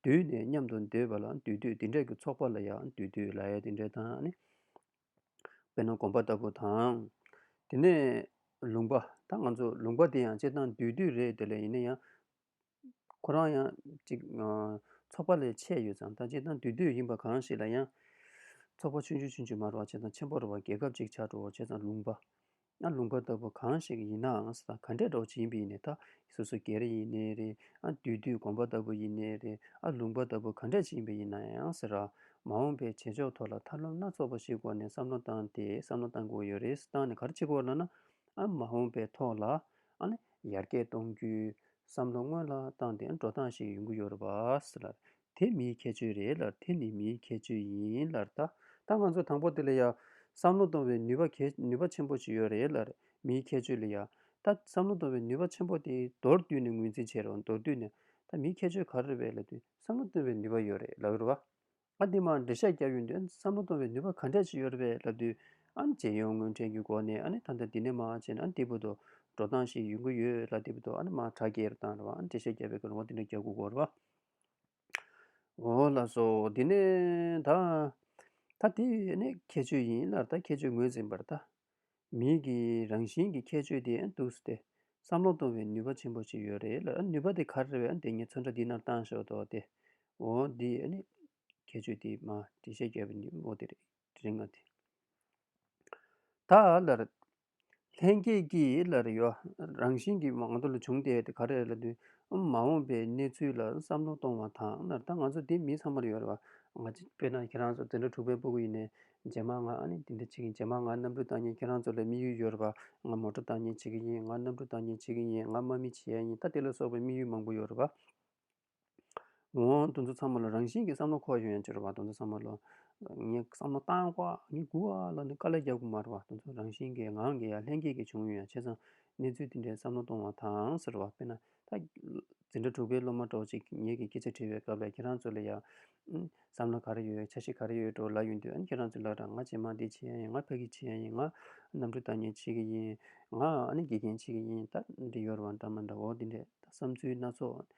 འདུས་ནས་མཉམ་དུ་སྡོད་པ་ལ་འདུས་སྡོད་དེ་འདྲ་གི་ཚོགས་པ་ལ་ཡང་འདུས་སྡོད་ལ་ཡ་དེ་འདྲ་དང་ནི། དཔེར་ན་དགོན་པ་ལྟ་བུ་དང། དེ་ནས་ལུང་པ་ད་ང་ཚོ་ལུང་པ་དེ་ཡང་སྤྱིར་བཏང་འདུས་སྡོད་རེད་དེ་ལས་ཡིན་ན་ཡང། ཁོ་རང་ཡང་ཅིག་ཚོགས་པ་ལས་ཆད་ཡོད་ཙང་ད་སྤྱིར་བཏང་འདུས་སྡོད་ཡིན་པ་གང་ཞིག་ལ་ཡང། ཚོགས་པ་ཆུང་ཆུང་ཆུང་ཆུང་མ་རུ་བ་བྱས་ཙང་ཆེན་པོ་རུ་བ་རྒྱལ་ཁབ་ཅིག་ཆགས་འགྲོ་བ་བྱས་ཙང་ལུང་པ་ཨ་ལུང་པ་ལྟ་བུ་གང་ཞིག་ཡིན་ནའང་ས་དང་ག་འདྲས་གྲོགས་བྱིན་པའི་ནས་ད་སོ་སོ་གེ་རེ་ཡིན་ནའི་རེ་ཨ་དུས་དུས་གོམ་པ་ལྟ་བུ་ཡིན་ནའི་རེ་ཨ་ལུང་པ་ལྟ་བུ་ག་འདྲས་བྱིན་པའི་ཡིན་ནའང་ཟེར་ར། མ་འོངས་པའི་བྱེད་ཕྱོགས་ཐོག་ལ་ཐབས་ལམ་སྣ་ཚོགས་པ་ཞིག་སྐོར་ནས་བསམ་བློ་བཏང་སྟེ་བསམ་བློ་བཏང་དགོས་ཡོད་རེད་བཏང་ནས་ག་རེ་བྱེད་དགོས་ལ་ན། ཨ་མ་འོངས་པའི་ཐོག་ལ་ཨ་ཡར་རྒྱས་གཏོང་རྒྱུའི་བསམ་བློ་སྔོན་ལ་བཏང་སྟེ་འགྲོ་སྟངས་ཤིག་ཡོང་གི་ཡོད་རེད་པ། དེ་མིའི་ཁྱད་ཆོས་རེད་ལར་དེ་ནི་མིའི་ཁྱད་ཆོས་ཡིན་ལར་ད་ལྟ་ང་ཚོ་དང་པོ་དེ་ལ་ཡང་བསམ་བློ་གཏོང་བའི་ནུས་པ་གལ་ནུས་པ་ཆེན་པོ་ཞིག་ཡོད་རེད་ལར་མིའི་ཁྱད་ཆོས་ལ་ཡང་ད་བསམ་བློ་གཏོང་བའི་ནུས་པ་ཆེན་པོ་དེ་མདོར་བསྡུས་ནས་ངོས་འཛིན་བྱེད་རོགས་མདོར་བསྡུས་ནས་ད་མིའི་ཁྱད་ཆོས་ག་རེ་རེད་ལ་དུས་བསམ་བློ་གཏོང་བའི་ནུས་པ་ཡོད་རེད་ལགས་རོ། ཨ་འདི་མར་འགྲེལ་བཤད་རྒྱག་རྒྱུ་འདོད་བསམ་བློ་གཏོང་བའི་ནུས་པ་ག་འདྲ་ཞིག་ཡོད་རེད་ལབ་དུས་ཨ་ནི་རྗེས་ཡོང་དངོས་འཕྲེང་གི་སྒོ་ནས་ཨ་ནི་ད་ལྟ་འདི་ནས་མ་བྱས་ན་ཨ་འདི་བོ་དོ་འགྲོ་སྟངས་ཤིག་ཡོང་གི་ཡོད་ལ་འདི་བོ་དོ་ཨ་ནི་མ་དྲག་གི་རེད་དང་རེད་བ་ཨ་འགྲེལ་བཤད་རྒྱག་པའི་གོ་ལོང་བ་འདི་འདྲ་རྒྱག་དགོས་གོ་རེད་བ། ལ་སོགས་འདི་ནི་ད་ལྟ་དེ་བས་ནི་ཁྱད་ཆོས་ཡིན་སླར་ད་ཁྱད་ཆོས་ངོས་འཛིན་པར་ལྟ། མིག་གི་རང་བཞིན་གྱི་ཁྱད་ཆོས་དེ་འདུག་ཟེར་ཏེ་བསམ་བློ་གཏོང་བའི་ནུས་པ་ཆེན་པོ་ཅིག་ཡོད་རེད་ལ་ནུས་པ་དེ་ག་རེ་རེད་དེ་ངས་ཚོན་ཁྲ་འདི་ནར་བཏང་ཞོར་དུ་དེ་འོ་འདི་ནི་ཁྱད་ཆོས་དེ་མ་དྲིས་ཤེས་བྱ་བའི་ནུས་པ་འོ་དེ་རེད་ང་དེ་ད་ལྟ་ལར་ལྷན་སྐྱེས་ཀྱི་ལ་རེ་ཡོད། རང་བཞིན་གྱིས་མང་དུ་ལ་བྱུང་སྟེ་ག་རེ་ལ་འདུས་འམ་མ་འོངས་པའི་གནས་ཚུལ་ལ་བསམ་བློ་གཏོང་བ་དང་ན་ད་ང་ཚོ་འདི་མི་ཚང་མར་ཡོད་རེད་བ། ང་ཅི། དཔེར་ན་ཁྱེད་རང་ཚོ་དེ་འདྲ་དྲུག་པའི་སྤོ་གི་ཡིན་ནས་རྗེས་མ་ང་ཨ་ནི་འདི་འདྲ་བྱེད་གིན་རྗེས་མ་ང་གནམ་གྲུ་བཏང་ཉིན་ཁྱེད་རང་ཚོ་ལ་དམིགས་ཡུལ་ཡོད་རེད་བ། ང་མོ་ཏྲོ་བཏང་ཉིན་བྱེད་གི་ཡིན་ང་གནམ་གྲུ་བཏང་ཉིན་བྱེད་གི་ཡིན་ང་དམག་མི་བྱེད་ཡ་ཡིན་ད་དེ་ལ་སོགས་པའི་དམིགས་ཡུལ་མང་པོ་ཡོད་རེད་བ། ངོ། དོན་ཚོད་ཚང་མ་ལ་རང་བཞིན་གྱི་བསམ་བློ་འཁོར་ཡོང་ཡང་ཅི་རུ་བ་དོན་ཚོད་ཚང་མ་ལ། ངའི་བསམ་བློ་བཏང་བ་ངའི་སྒུག་བ་ལ་ནི་དཀའ་ལས་རྒྱག་དགོས་མ་རུ་བ་དོན་ཚོད་རང་བཞིན་གྱི་ངང་གིས་ཡ་ལྷན་སྐྱེས་ཀྱི་བྱུང་ཡོད་ཡང་བྱས་ཙང་གནས་ཚུལ་འདི་འདྲའི་བསམ་བློ་གཏོང་བ་དང་ཟེར་བ་དཔེར་ན། ད། འཛིན་གྲྭ་དྲུག་པའི་སློབ་མ་གྲོགས་གཅིག་ངེད་ཀྱི་སྐད་ཆ་དྲིས་པའི་སྐབས་ལས་ཁྱེད་རང་ཚོ་ལས་ཡག། བསམ་བློ་ག་རེ་ཡོད་ཆ་ཤས་ག་རེ་ཡོད་འགྲོ་ལ་ཡོད་འདོད་ཨང་ཁྱེད་རང་ཚོས་ལགས་དང་ང་ཇེ་མང་འདི་བྱེད་ཡ་ཡིན་ང་ཕ་གི་བྱེད་ཡ་ཡིན་ང་གནམ་གྲུ་བཏང་མཁན་བྱེད་གི་ཡིན་ང་ཨ་ནེ་དགེ་རྒན་བྱེད་གི་ཡིན་ད་འདི་ཡོད་རེད་བ་འདྲ་མ་འདྲ་འོ་འདི་འདྲས་ད་བསམ་ཚུལ་སྣ་ཚོགས་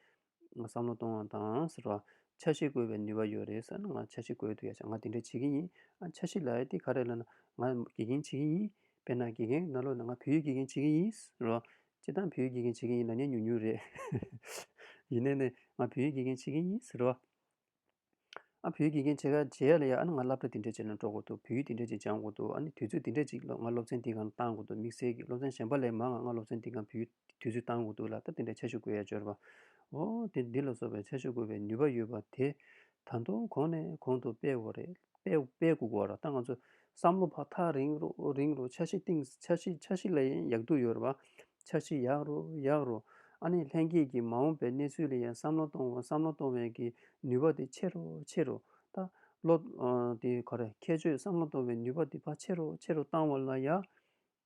བསམ་བློ་གཏོང་བ་དང་ཟེར་བ་ཆ་ཤས་བཀོལ་བའི་ནུས་བ་ཡོད་རེད་ཟེར་ན་ང་ཆ་ཤས་བཀོལ་འདོད་ཡ་ཆ་ང་འདི་འདྲས་བྱེད་གི་ཡིན་ཨ་ཆ་ཤས་ལའེ་འདི་ག་རེད་ལ་ན་ང་དགེ་རྒན་བྱེད་གི་ཡིན་དཔེར་ན་དགེ་རྒན་ན་ལོ་ན་ང་བོད་ཡིག་དགེ་རྒན་བྱེད་གི་ཡིན་ཟེར་བ་བྱེད་སྟངས་བོད་ཡིག་དགེ་རྒན་བྱེད་མཁན་ཡིན་ན་ཉན་ཉུང་ཉུང་རེད། ཡིན་ནའི་ནས་ང་བོད་ཡིག་དགེ་རྒན་བྱེད་མཁན་ཡིན་ཟེར་བ། ཨ་བོད་ཡིག་དགེ་རྒན་བྱེད་ཁ་བྱེད་ཡ་ལ་ཡ་ཨ་ནི་ང་སླབ་གྲ་དེ་འདྲས་བྱས་ན་འགྲོ་དགོས་འདུག་བོད་ཡིག་དེ་འདྲས་ཅིག་སྦྱང་དགོས་འདུག་ཨ་ནི་དུས་ཚོད་དེ་འདྲས་ཅིག་ང་སློབ་ཚན་འདི་གང་བཏང་དགོས་འདུག་དམིགས་བསལ་གྱི་སློབ་ཚན་གཞན་པ་ལས་མང་ང་ང་སློབ་ཚན་འདི་གང་བོད་ཡིག་དུས་ཚོད་བཏང་དགོས་འདུག་ལ་ད་དེ་འདྲས་ཆ་ཞུ་དགོས་ཡ་འབྱོར་བ། འོ་དེ་འདི་ལ་སོགས་པའི་ཆ་ཞུ་དགོས་པའི་ནུས་པ་ཡོད་པ་དེ་ད་དུང་གོང་ནས་གོང་དུ་སྤེལ་དགོས་རེད། སྤེལ་དགོས་དགོས་ར་ད་ང་ཚོས་བསམ་བློ་ཕག་ཐག་རིང་རུ་རིང་རུ་འཆར་གཞི་གཏིང་འཆར་གཞི་འཆར་གཞི་ལ་ཡང་ཡག་སྡུག་ཡོད་རེད་བ། འཆར་གཞི་ཡག་རུ་ཡག་རུ་ཨ་ནི་ལྷན་སྐྱེས་ཀྱི་མ་འོངས་པའི་གནས་ཚུལ་ལ་ཡང་བསམ་བློ་གཏོང་བསམ་བློ་གཏོང་བའི་གི་ནུས་པ་དེ་ཆེ་རུ་ཆེ་རུ་ད་བློ་དེ་ག་རེ་ཁྱད་ཆོས་བསམ་བློ་གཏོང་བའི་ནུས་པ་དེ་ཕ་ཆེ་རུ་ཆེ་རུ་བཏང་བ་ལ་ཡག་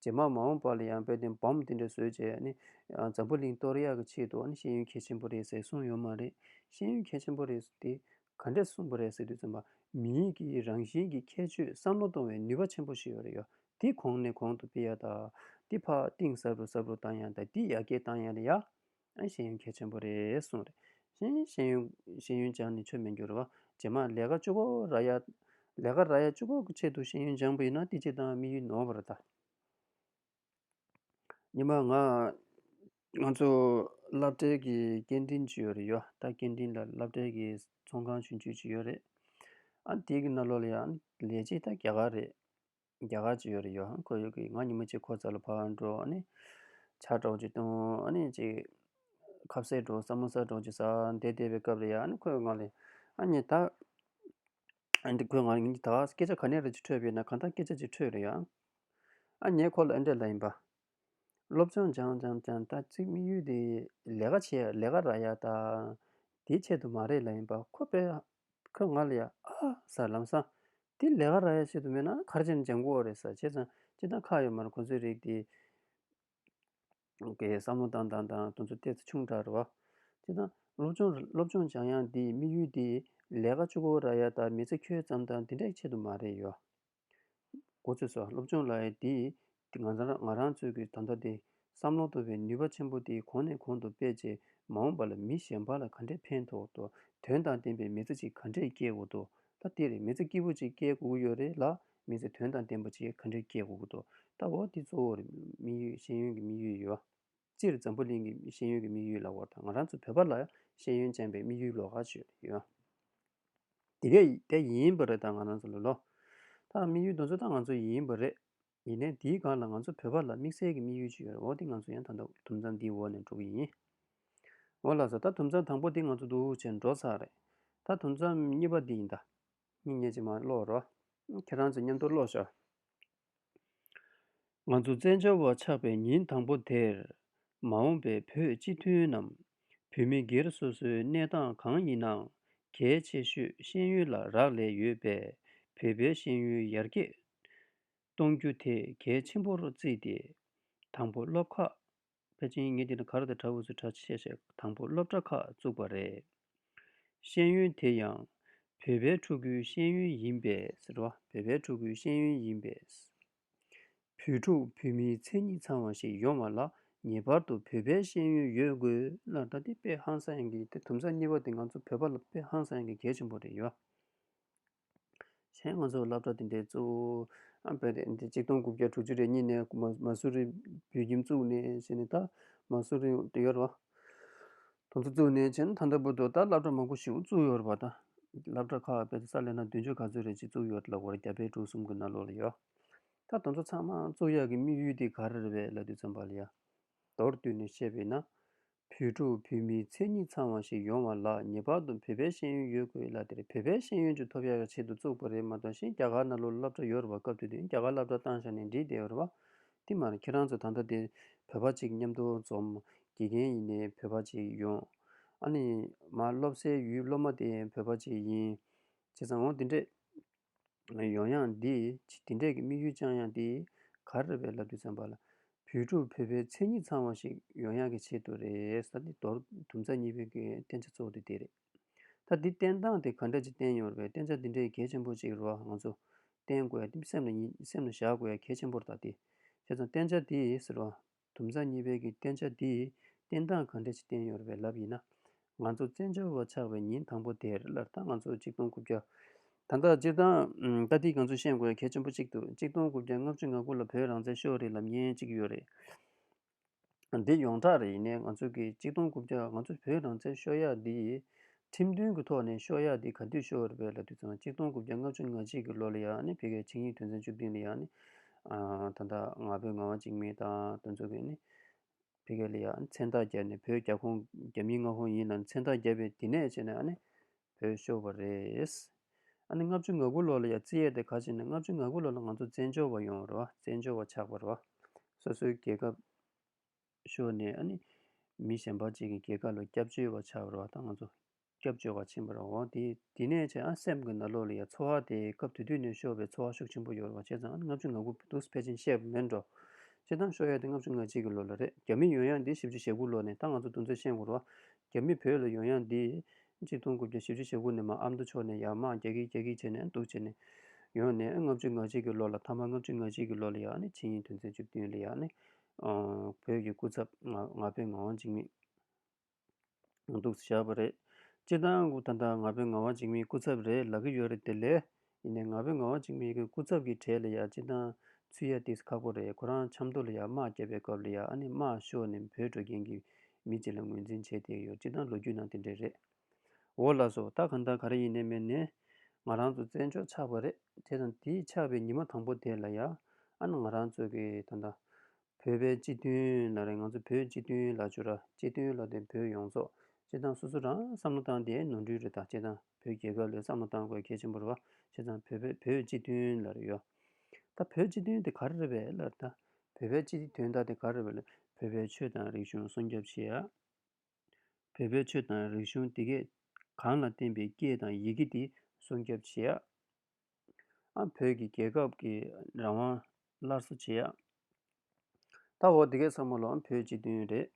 རྗེས་མར་མ་འོངས་པར་ལ་ཡང་དཔལ་ལྡན་བམ་དེ་འདྲ་བཟོས་རྗེས་ནི། འཛམ་བུ་གླིང་གཏོར་ཡག་གི་ཆེད་དུ་ནི་ཤེས་ཡོན་གལ་ཆེན་པོ་རེད་ཟེར་གསུངས་ཡོད་མ་རེད། ཤེས་ཡོན་གལ་ཆེན་པོ་རེད་ཟེར་དེ་ག་འདྲས་གསུངས་པ་རེད་ཟེར་དུས་ཚོད་མ། མི་ཡིག་གི་རང་བཞིན་གྱི་ཁྱད་ཆོས་བསམ་བློ་གཏོང་བའི་ནུས་པ་ཆེན་པོ་ཞིག་ཡོད་རེད་ཡོད་དེ་གོང་ནས་གོང་དུ་སྤེལ་ཡག་དང། དེ་ཕག་གཏིང་ཟབ་རུ་ཟབ་རུ་བཏང་ཡང་དང་དེ་ཡར་རྒྱས་བཏང་ཡང་ཡག། ཨ་ཤེས་ཡོན་གལ་ཆེན་པོ་རེད་གསུངས། རེད་ཤེས་ཡོན། ཤེས་ཡོན་སྦྱངས་ནས་ཆོས་མི་འགྱུར་བ། རྗེས་མ་ལས་ཀ་བཅུ་པོ་ར་ཡ། ལས་ཀ་ར་ཡ་བཅུ་པོ་གི་ཆེད་དུ་ཤེས་ཡོན་སྦྱངས་པ་ཡིན་ན་བསྟི་བྱེད་དང་དམིགས་ཡུལ་ནོར་བ་རེད་ད། ཉི་མ་ང། ང་ཚོ་སློབ་གྲྭའི་གི་སྐད་འཕྲིན་ཇི་ཡོད་རེད་ཡོད་ད་སྐད་འཕྲིན་ལ་སློབ་གྲྭའི་གི་ཚོང་ཁང་ཞུ་འཇུག་ཇི་ཡོད་རེད། ཨ་དེའི་གི་ན་ལོ་ལ་ཡང་ལས་བྱེད་ད་རྒྱ་གར་རེད། རྒྱ་གར་གྱི་ཡོད་རེད་ཡོད་ཧ་ཁོ་ཡོད་གི་ང་ཉིན་མོ་གཅིག་ཁོ་ཙལ་ལ་ཕར་འགྲོ་ཨ་ནི། ཆ་གྲོགས་ཀྱི་སྟོང་ཨ་ནི་གཅིག། ཁབ་སེར་གྲོགས་སྲ་མོ་སྲ་གྲོགས་ཀྱི་ས་འདས་བསྡད་པའི་སྐབས་རེད་ཡ་ཨ་ནི་ཁོས་ང་ལས། ཨ་ཉི་ད། ཨ་ནི་ཁོས་ང་ལ་ངེད་གཉིས་ད་སྐད་ཆ་ག་ནས་རེད་ཅེས་འཕྲོས་པས་ན་གང་ལྟར་སྐད་ཆ་ཅིག་འཕྲོས་རེད་ཡ། ཨ་ཉེས་ཁོ་ལ་ཨེ་འདྲ་ལ་ཡིན་པ། སློབ་སྦྱོང་སྦྱང་སྦྱང་སྦྱང་ད་ཙིག་དམིགས་ཡུལ་དེ་ལས་ཀ་བྱས་ལས་ཀ་ར་ཡ་ད་དེའི་ཆེད་དུ་མ་རེད་ལ་ཡིན་པ་ཁོ་པས་ཁོས་ང་ལ་ཡ་ཨ་ཟ་ལམ་སང་དེ་ལས་ཀ་ར་ཡ་ཆེད་དུ་མེད་ན་ཁར་ཆེན་ལྗང་གུ་འོ་རེད་ཟ་བྱས་ཙང་ཅི་ད་ཁག་ཡོད་མ་རེད་ཁོ་ཚོའི་རིགས་དེ་གས་བསམ་བློ་དང་དང་དང་དུ་ཚོད་བལྟས་ཚེ་ཆུང་དྲགས་རེད་བ། ཅི་ད་སློབ་སྦྱོང་སློབ་སྦྱོང་སྦྱང་ཡང་དེའི་དམིགས་ཡུལ་དེ་ལས་ཀ་ཅུ་གུ་ར་ཡ་ད་མི་ཚེ་ཁྱོད་ཙམ་ད་དེ་འདྲའི་ཆེད་དུ་མ་རེད་ཡོད། འགོ་ཚུགས་སོ་སློབ་ཆུང་ལའེ་འདིས་ང་རང་ཚོའི་གི་ད་ལྟ་དེ་བསམ་བློ་གཏོད་པའི་ནུས་པ་ཆེན་པོ་དེ་གོང་ནས་གོང་དུ་སྤེལ་རྗེས་མ་འོངས་པ་ལ་མི་གཞན་པ་ལ་ག་འདྲའི་ཕན་ཐོགས་དོ་དོན་དང་ལྡན་པའི་མི་ཚེ་ཅིག་ག་འདྲས་སྐྱེལ་དགོས་དོ་ད་དེ་རེད་མི་ཚེ་སྐྱིད་པོ་ཅིག་སྐྱེལ་དགོས་ཀྱི་ཡོད་རེད་ལ་མི་ཚེ་དོན་དང་ལྡན་པ་ཅིག་ག་འདྲས་སྐྱེལ་དགོས་ཀྱི་འདུག་ད་འོ་དེ་གཙོ་བོར་མི་ཡུལ་ཤེས་ཡོན་གྱི་མི་ཡུལ་ཡོད། སྤྱིར་འཛམ་བུ་གླིང་གི་ཤེས་ཡོན་གྱི་དམིགས་ཡུལ་ལ་བོར་དང་ང་རང་ཚོ་བོད་པ་ལ་ཤེས་ཡོན་ཅན་པའི་དམིགས་ཡུལ་ལོག་ག་ཆོད་ཡོད། དེ་གས་དེ་ཡིན་པ་རེད་ད་ང་རང་ཚོ་ལོ་ལོ། ད་དམིགས་ཡུལ་དོན་ཚོད་ད་ང་ཚོ་ཡིན་པ་རེད། ཡིན་ནས་འདིའི་སྒང་ལ་ང་ཚོ་བོད་པ་ལ་དམིགས་བསལ་གྱི་དམིགས་ཡུལ་ཅིག་ཡོད་རེད་འོ་དེ་ང་ཚོ་ཡང་ད་ལྟ་དུམ་ཚང་འདིའི་འོག་ནས་འགྲོ་གི་ཡིན། འོ་ལགས་སོ་ད་དུམ་ཚང་དང་པོ་འདི་ང་ཚོ་འདུག་བྱས་འགྲོ་ཚར་རེད། ད་དུམ་ཚང་གཉིས་པ་འདི་ཡིན་ད། མིག་ཉེས་ཅིག་མ་བློ་རོ། ཁྱེད་རང་ཚོས་མཉམ་དུ་བློ་ཞོ། ང་ཚོ་བཙན་བྱོལ་བ་ཆགས་པའི་ཉིན་དང་པོ་དེར། མ་འོངས་པའི་བོད་སྤྱི་མཐུན་ནམ་བོད་མི་སྒེར་སོ་སོའི་གནས་སྟངས་གང་ཡིན་ནའང་གལ་ཆེ་ཤོས་ཤེས་ཡོན་ལ་རག་ལས་ཡོད་པས་བོད་པའི་ཤེས་ཡོན་ཡར་རྒྱས་གཏོང་རྒྱུ་དེ་གལ་ཆེན་པོར་བརྩིས་ཏེ། དང་པོ་སློབ་ཁག་པེ་ཅིང་ངེད་ཀྱི་གར་དང་བྲ་བུ་ཚོས་གྲྭ་ཆས་བྱས་དང་པོ་སློབ་གྲྭ་ཁག་བཙུགས་པ་རེད། ཤེས་ཡོན་དེ་ཡང་བོད་པའི་ཕྲུ་གུའི་ཤེས་ཡོན་ཡིན་པས། བོད་པའི་ཕྲུ་གུའི་ཤེས་ཡོན་ཡིན་པས། བོད་ཕྲུག་བོད་མིའི་མཚན་ཉིད་ཚང་བ་ཞིག་ཡོང་བ་ལ་ངེས་པར་དུ་བོད་པའི་ཤེས་ཡོན་ཡོད་དགོས། ད་ལྟའི་དཔེ་ཧང་སང་གི་དེ་དུམ་ཚ་གཉིས་པ་དེ་ང་ཚོ་བོད་པ་ལ་དཔེ་ཧང་སང་གི་གལ་ཆེན་པོ་རེད་ཡ། གཞན་ང་ཚོར་བསླབ་གྲྭ་འདི་འདྲའི་གཙོ་བོ་སྤེལ་ཏེ་འདི་གཅིག་སྟོང་དགུ་བརྒྱ་དྲུག་ཅུ་རེ་གཉིས་ནས་མ་སུ་རི་བོད་ཁྱིམ་བཙུགས་ནས་བྱས་ནས་ད་མ་སུ་རི་དུ་ཡོད་རེད། དང་དུ་བཙུགས་ནས་བྱས་ན་ད་ལྟ་བུ་དུ་ད་བསླབ་གྲྭ་མང་པོ་ཞིག་བཙུགས་ཡོད་རེད་པ་ད། བསླབ་གྲྭ་ཁག་སྤེལ་ཏེ་ས་ལས་ན་བདུན་ཅུ་ག་ཚོད་རེ་གཅིག་བཙུགས་ཡོད་རེད་ལ་འོ་རེ་རྒྱ་བལ་འབྲུག་གསུམ་གྱི་ན་ལོ་ལ་ཡོད། ད་དང་ཚོ་ཚང་མ་བཙུགས་ཡག་གི་དམིགས་ཡུལ་དེ་ག་རེ་རེད་བས་ལ་དུས་ཚོད་འབའ་ལ་ཡ། མདོར་བསྡུས་ནས་བཤད་པས་ན། བོད་ཕྲུག་བོད་མིའི་མཚན་ཉིད་ཚང་བ་ཞིག་ཡོང་བ་ལ་ངེས་པར་དུ་བོད་པའི་ཤེས་ཡོན་ཡོད་དགོས་ལ་དེར་བོད་པའི་ཤེས་ཡོན་ཅུ་ཐོབ་ཡག་ཡག་ཆེད་དུ་བཙུགས་པ་རེད་མ་གཏོགས་གཞན་རྒྱ་གར་ན་ལོ་སློབ་གྲྭ་ཡོད་རེད་བ་སྐབས་དུས་དུས་རྒྱ་གར་སླབ་གྲྭ་བཏང་བཞག་ནས་འབྲི་བསྡད་ཡོད་རེད་བ། ཏི་མ་རེད་ཁྱེད་རང་ཚོ་ད་ལྟ་དེ་བོད་པ་ཅིག་མཉམ་དུ་འཛོམས་དགེ་རྒན་ཡིན་ནས་བོད་པ་ཅིག་ཡོང། ཨ་ནི། མ་སློབ་སའི་ཡུལ་སློབ་མ་དེ་བོད་པ་ཅིག་ཡིན། བྱས་ཙང་འོང་དེ་འདྲས། ཡོང་ཡང་འདི་འདི་འདྲས་ཀྱི་དམིགས་ཡུལ་བཅང་ཡང་དེ་ག་རེ་རེད་བའི་ལབ་རྒྱུ་ཙམ་པ་ལ། བོད་ཕྲུག་བོད་པའི་མཚན་ཉིད་ཚང་བ་ཞིག་ཡོང་ཡག་གི་ཆེད་དུ་རེད་ས་འདི་མདོར་དུམ་ཚ་གཉིས་པའི་གི་བསྟན་བྱ་གཙོ་བོ་དེ་དེ་རེད། ད་འདི་བསྟན་སྟངས་དེ་ག་འདྲ་ཅིག་བསྟན་ཡོང་རེད་བསྟན་བྱ་འདི་འདྲའི་གལ་ཆེན་པོ་ཅིག་རོ་ང་ཚོ་བསྟན་དགོས་སེམས་ལ་བཞག་དགོས་གལ་ཆེན་པོར་ད་དེ་བྱས་ཙང་བསྟན་བྱ་དེ་ཟེར་བ་དུམ་བཟའ་གཉིས་དཔལ་གྱི་བསྟན་བྱ་འདིས། བསྟན་སྟངས་གང་འདྲ་ཞིག་བསྟན་ཡོད་པའི་ལབ་ཡིན་ན། ང་ཚོ་བཙན་བྱོལ་བ་ཆགས་པའི་ཉིན་དང་པོ་དེར་སླར་ད་ང་ཚོ་གཅིག་སྟོང་དགུ་བརྒྱ། ད་ལྟ་སྤྱིར་བཏང་ལྟ་འདི་ག་ཚོད་ཤེས་དགོས་གལ་ཆེན་པོ་གཅིག་འདུག་གཅིག་སྟོང་དགུ་བརྒྱ་ལྔ་བཅུ་ང་དགུ་ལ་བོད་རང་བཙན་ཤོག་རིལ་ལབ་ཉེན་གཅིག་ཡོད་རེད། འདི་ཡོངས་གྲགས་རེད་ཡིན་ནའི་ང་ཚོ་གི་གཅིག་སྟོང་དགུ་བརྒྱ་ང་ཚོ་བོད་རང་བཙན་ཤོག་ཡག་འདི། ཁྲིམས་མཐུན་གྱི་ཐོག་ནས་ཤོག་ཡག་འདི་ག་དུས་ཤོག་རེད་པས་ལ་དུས་ཚང་གཅིག་སྟོང་དགུ་བརྒྱ་ལྔ་བཅུ་ང་གཅིག་གི་ལོ་ལ་ཡག་ནི་བོད་སྐད་ཆིངས་ཡིག་དོན་ཚན་བཅུ་བདུན་ལ་ཡག་ནི། ད་ལྟ་ང་བོད་ང་བ་གཅིག་མིན་ད་དུས་ཚོད་ཀྱི་ནི། བོད་སྐད་ལ་ཡག་ནི་མཚན་རྟགས་བརྒྱབ་ནི་བོད་རྒྱ་ཁོངས་རྒྱ་མིའི་མངའ་ཁོངས་ཡིན་ལ་ནི་མཚན་རྟགས་བརྒྱབ་པས་དེ་ནས་བྱས་ནས་ནི། བོད་ཤོག་བ་རེད། ལྔ་བཅུ་ང་དགུ་ལོ་ལ་ཡག་རྩིས་ཡས་དེ་ག་བྱས་ནས་ལྔ་བཅུ་ང་དགུ་ལོ་ལ་ང་ཚོ་བཙན་བྱོལ་བ་ཡོང་བར་བ་བཙན་བྱོལ་བ་ཆགས་པར་བ། སོ་སོའི་རྒྱལ་ཁབ། ཤོར་ནས་ཨ་ནི། མི་གཞན་པ་གཅིག་གི་སྐྱེ་ཁ་ལ་སྐྱབས་བཅོལ་བ་ཆགས་པར་བ་དང་ང་ཚོ་སྐྱབས་བཅོལ་བ་ཕྱིན་པར་བ་དེ་དེ་ནས་ཆེ་ཨ་སེམས་ཀྱི་ན་ལོག་ལ་ཡ་འཚོ་བ་དེ་སྐབས་དུས་དུས་ནས་ཤོར་བའི་འཚོ་བ་ཤུགས་ཆེན་པོ་ཡོར་བ་བྱས་ཙང་ཨ་ནི་ལྔ་བཅུ་ང་དགུ་འདུག་ཕལ་ཆེན་བཤད་པ་མེད་འགྲོ། སྤྱིར་བཏང་ཤོར་ཡ་དེ་ལྔ་བཅུ་ང་གཅིག་གི་ལོ་ལ་རེད་རྒྱ་མི་ཡོང་ཡ་འདི་བཞི་བཅུ་ཞེ་དགུ་ལོ་ནས་ད་ང་ཚོ་འདུག་མཚོན་ཤེས་འགོར་བ། རྒྱ་མི་བོད་ལ་ཡོང་ཡ་འདི། གཅིག་སྟོང་དགུ་བརྒྱ་བཞི་བཅུ་ཞེ་དགུ་ནས་མ་ཨ་མདོ་ཕྱོགས་ནས་ཡར་མར་རྒྱ་ཁིག་རྒྱ་ཁིག་བྱས་ནས་འདུག་བྱས་ནས། ཡོང་ནས་ཨ་ལྔ་བཅུ་ང་གཅིག་གི་ལོ་ལ་ཐ་མ་ལྔ་བཅུ་ང་གཅིག་གི་ལོ་ལ་ཡ་ཨ་ནི་ཕྱི་ཉིན་དོན་ཚན་བཅུ་བདུན་ལ་ཡ་ཨ་ནི། བོད་ཀྱི་སྐུ་ཚབ་ང་ཕོད་ངག་དབང་འཇིགས་མེད་ང་འདུག་བཞག་པ་རེད། སྤྱིར་བཏང་སྐུ་ད་ལྟ་ང་ཕོད་ངག་དབང་འཇིགས་མེད་སྐུ་ཚབ་རེད་ལབ་ཀྱི་ཡོད་རེད་དེ་ལས་ཡིན་ནའི་ང་ཕོད་ངག་དབང་འཇིགས་མེད་ཀྱི་སྐུ་ཚབ་ཀྱི་གྲས་ལ་ཡང་སྤྱིར་བཏང་ཚུད་ཡ་དེ་ཁག་པོ་རེད་ཁོ་རང་ཆབ་མདོ་ལ་ཡང་དམག་རྒྱབ་པའི་སྐབས་ལ་ཡང་ཨ་ནི་དམག་ཤོར་ནས་བོད་འགྲོ་མཁན་གྱི་མི་གཅིག་ལ་ངོས་འཛིན་བྱས་དེ་ཡོད་སྤྱིར་བཏང་ལོ་རྒྱུས་ནང་དེ་འདྲས་རེད། འོ་ལགས་སོ་ད་གང་ལྟར་ག་རེ་ཡིན་ནས་མེད་ནས། ང་རང་ཚོ་བཙན་བྱོལ་ཆགས་པ་རེད་དེ་དང་དེ་ཆགས་པའི་ཉི་མ་དང་པོ་དེ་ལ་ཡ་ཨན་ང་རང་ཚོ་གི་ད་ད། བོད་པའི་སྤྱི་མཐུན་ལ་རེད་ང་ཚོ་བོད་སྤྱི་མཐུན་ལ་བྱོས་ར་སྤྱི་མཐུན་ལ་དེ་བོད་ཡོངས་རྫོགས་སྤྱི་བཏང་སོ་སོ་རང་བསམ་བློ་བཏང་དེ་ནོར་འཁྲུལ་རེད་ད་སྤྱི་བཏང་བོད་རྒྱལ་ཁབ་ལས་བསམ་བློ་བཏང་དགོས་གལ་ཆེན་པོ་རེད་བ་སྤྱི་བཏང་བོད་པའི་བོད་སྤྱི་མཐུན་ལ་རེད་ཡོ་ད་བོད་སྤྱི་མཐུན་དེ་ག་རེ་རེད་བས་ལར་ད་བོད་པའི་སྤྱི་མཐུན་ད་དེ་ག་རེ་རེད་བས་ལར་བོད་པའི་ཆོས་དང་རིག་གཞུང་སྲུང་སྐྱོབ་བྱེད་ཡ། བོད་པའི་ཆོས་དང་རིག་གཞུང་དེ་གས་གང་ལ་བརྟེན་པའི་སྐད་དང་ཡི་གེ་དེ་སྲུང་སྐྱོབ་བྱེད་ཡ། བོད་ཀྱི་རྒྱལ་ཁབ་ཀྱི་རང་དབང་སླར་གསོ་བྱེད་ཡ། ད་འོ་དེ་གས་ཚང་མ་ལོ་བོད་སྤྱི་མཐུན་རེད།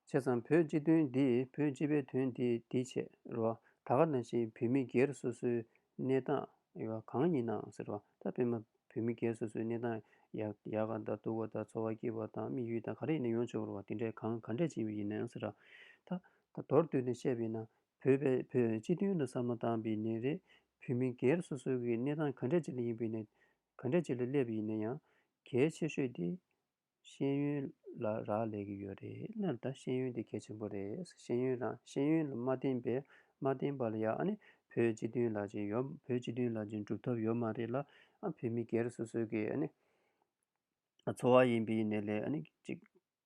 བྱས་ཙང་བོད་སྤྱི་མཐུན་འདིས་བོད་སྤྱི་པའི་དོན་དེ་དེ་བྱས་རོ། ད་ག་ནང་བཞིན་བོད་མི་སྒེར་སོ་སོའི་གནས་སྟངས་ཡག་གང་ཡིན་ནའང་ཟེར་བ་ལྟར་སྤེན་མ་བོད་མི་སྒེར་སོ་སོའི་གནས་སྟངས་ཡག་ཡག་ག་དང་སྡུག་ག་དང་འཚོ་བ་སྐྱིད་པ་དང་དམིགས་ཡུལ་དང་ག་རེ་ཡིན་ན་ཡོངས་ཆོས་བོར་བ་དེ་འདྲའི་གང་ག་འདྲས་ཅན་བའི་ཡིན་ནའང་ཟེར་བ་ལྟར་ད་མདོར་བསྡུས་ནས་བཤད་པས་ན་བོད་པས་བོད་སྤྱི་དོན་ལ་བསམ་བློ་བཏང་པའི་ནས་རེད་བོད་མི་སྒེར་སོ་སོའི་གནས་སྟངས་ག་འདྲས་ཅན་ལ་ཡིན་པའི་ནས་ག་འདྲས་ཅན་ལ་སླེབས་པའི་ཡིན་ན་ཡང་གལ་ཆེ་ཤོས་དེ་ཤེས་ཡོན་ལ་རག་ལས་ཀྱི་ཡོད་རེད་ད་ཤེས་ཡོན་དེ་གལ་ཆེན་པོ་རེད་ཤེས་ཡོན་རང་ཤེས་ཡོན་ལ་མ་བརྟེན་པའི་མ་བརྟེན་པ་ལ་ཡང་ཨ་ནི་བོད་སྤྱི་དོན་ལ་ཅིག་ཡོད་བོད་སྤྱི་དོན་ལ་ཅིག་འགྲུབ་ཐབས་ཡོད་མ་རེད་ལ་ཨ་བོད་མི་སྒེར་སོ་སོའི་གི་ཨ་ནི་འཚོ་བ་ཡིན་པའི་ནས་ལས་ཨ་ནི་ཅིག་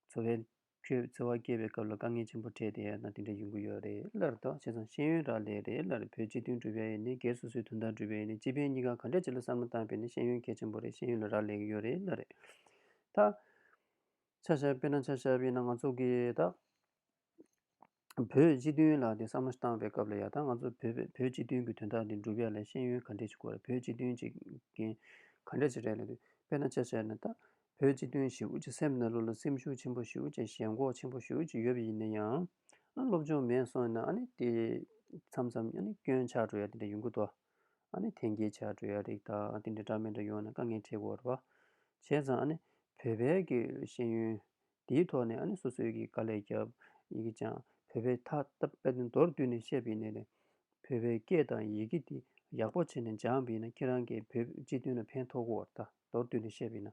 འཚོ་བའི་ཁྱོད་བརྩེ་བ་སྐྱེས་པའི་སྐབས་ལ་དཀའ་ངལ་ཆེན་པོ་འཕྲད་དེ་ན་དེ་འདྲ་ཡོང་གི་ཡོད་རེད་ལར་དོག་བྱས་ཙང་ཤེས་ཡོན་རག་ལས་རེད་ལར་བོད་སྤྱི་མཐུན་སྒྲུབ་ཡ་ཡི་ནས་སྒེར་སོ་སོའི་དོན་དག་སྒྲུབ་ཡ་ཡི་ནས་སྤྱི་ཕན་གཉིས་ཀ་ག་འདྲ་བྱེད་ལ་བསམ་བློ་བཏང་པས་ན་ཤེས་ཡོན་གལ་ཆེན་པོ་རེད་ཤེས་ཡོན་ལ་རག་ལས་གི་ཡོད་རེད་ལར་རེད་ད། ཆ་ཞབས་པས་ན་ཆ་ཞབས་པས་ན་ང་ཚོ་གིས་ད། བོད་སྤྱི་མཐུན་ལ་དེ་བསམ་བློ་བཏང་བའི་སྐབས་ལ་ཡང་ད་ང་ཚོ་བོད་པས་བོད་སྤྱི་མཐུན་གྱི་དོན་དག་འདི་འགྲུབ་ཡ་ལས་ཤེས་ཡོན་ག་འདྲས་ཅིག་གོ་རེད་བོད་སྤྱི་མཐུན་ཅིག་གིན་ག་འདྲས་ཅིག་རེད་ལ་དུས་དཔེ་ན་ཆ་བྱས་ན་ད་བོད་སྤྱི་མཐུན་ཞེ་དབུས་ཀྱི་སེམས་ན་ལུས་ལ་སེམས་ཤུགས་ཆེན་པོ་ཞིག་དབུས་ཀྱི་ཞེན་ཁོག་ཆེན་པོ་ཞིག་ཡོད་པ་ཡིན་ན་ཡང་ཨ་ནི་སློབ་སྦྱོང་མེད་སོང་ན་ཨ་ནི་དེ་མཚམས་མཚམས་ཨ་ནི་སྐྱོན་ཆགས་འགྲོ་ཡ་དེ་འདྲ་ཡོང་གི་འདུག་ཨ་ནི་ཐན་སྐྱལ་ཆགས་འགྲོ་ཡ་རིགས་དག་དེ་འདྲ་འདྲ་མི་འདྲ་ཡོང་ན་དཀའ་ངལ་འཕྲད་དགོས་རེད་བ་བྱས་ཙང་ཨ་ནི་བོད་པའི་གི་ཤེས་ཡོན་དེའི་ཐོག་ནས་ཨ་ནེ་སོ་སོའི་གི་དཀའ་ལས་བརྒྱབ་ཡི་གི་ཅང་བོད་པའི་ཐ་ཏ་པད་ནི་མདོར་བསྡུས་ནས་བཤད་པི་ནི་ནས་བོད་པའི་སྐད་དང་ཡི་གི་དེ་ཡག་པོ་བྱེད་ནས་སྦྱངས་པི་ན་ཁྱེད་རང་གི་བོད་སྤྱི་དོན་ལ་ཕན་ཐོག་གོ་བར་ཐ་མདོར་བསྡུས་ནས་བཤད་པི་ན་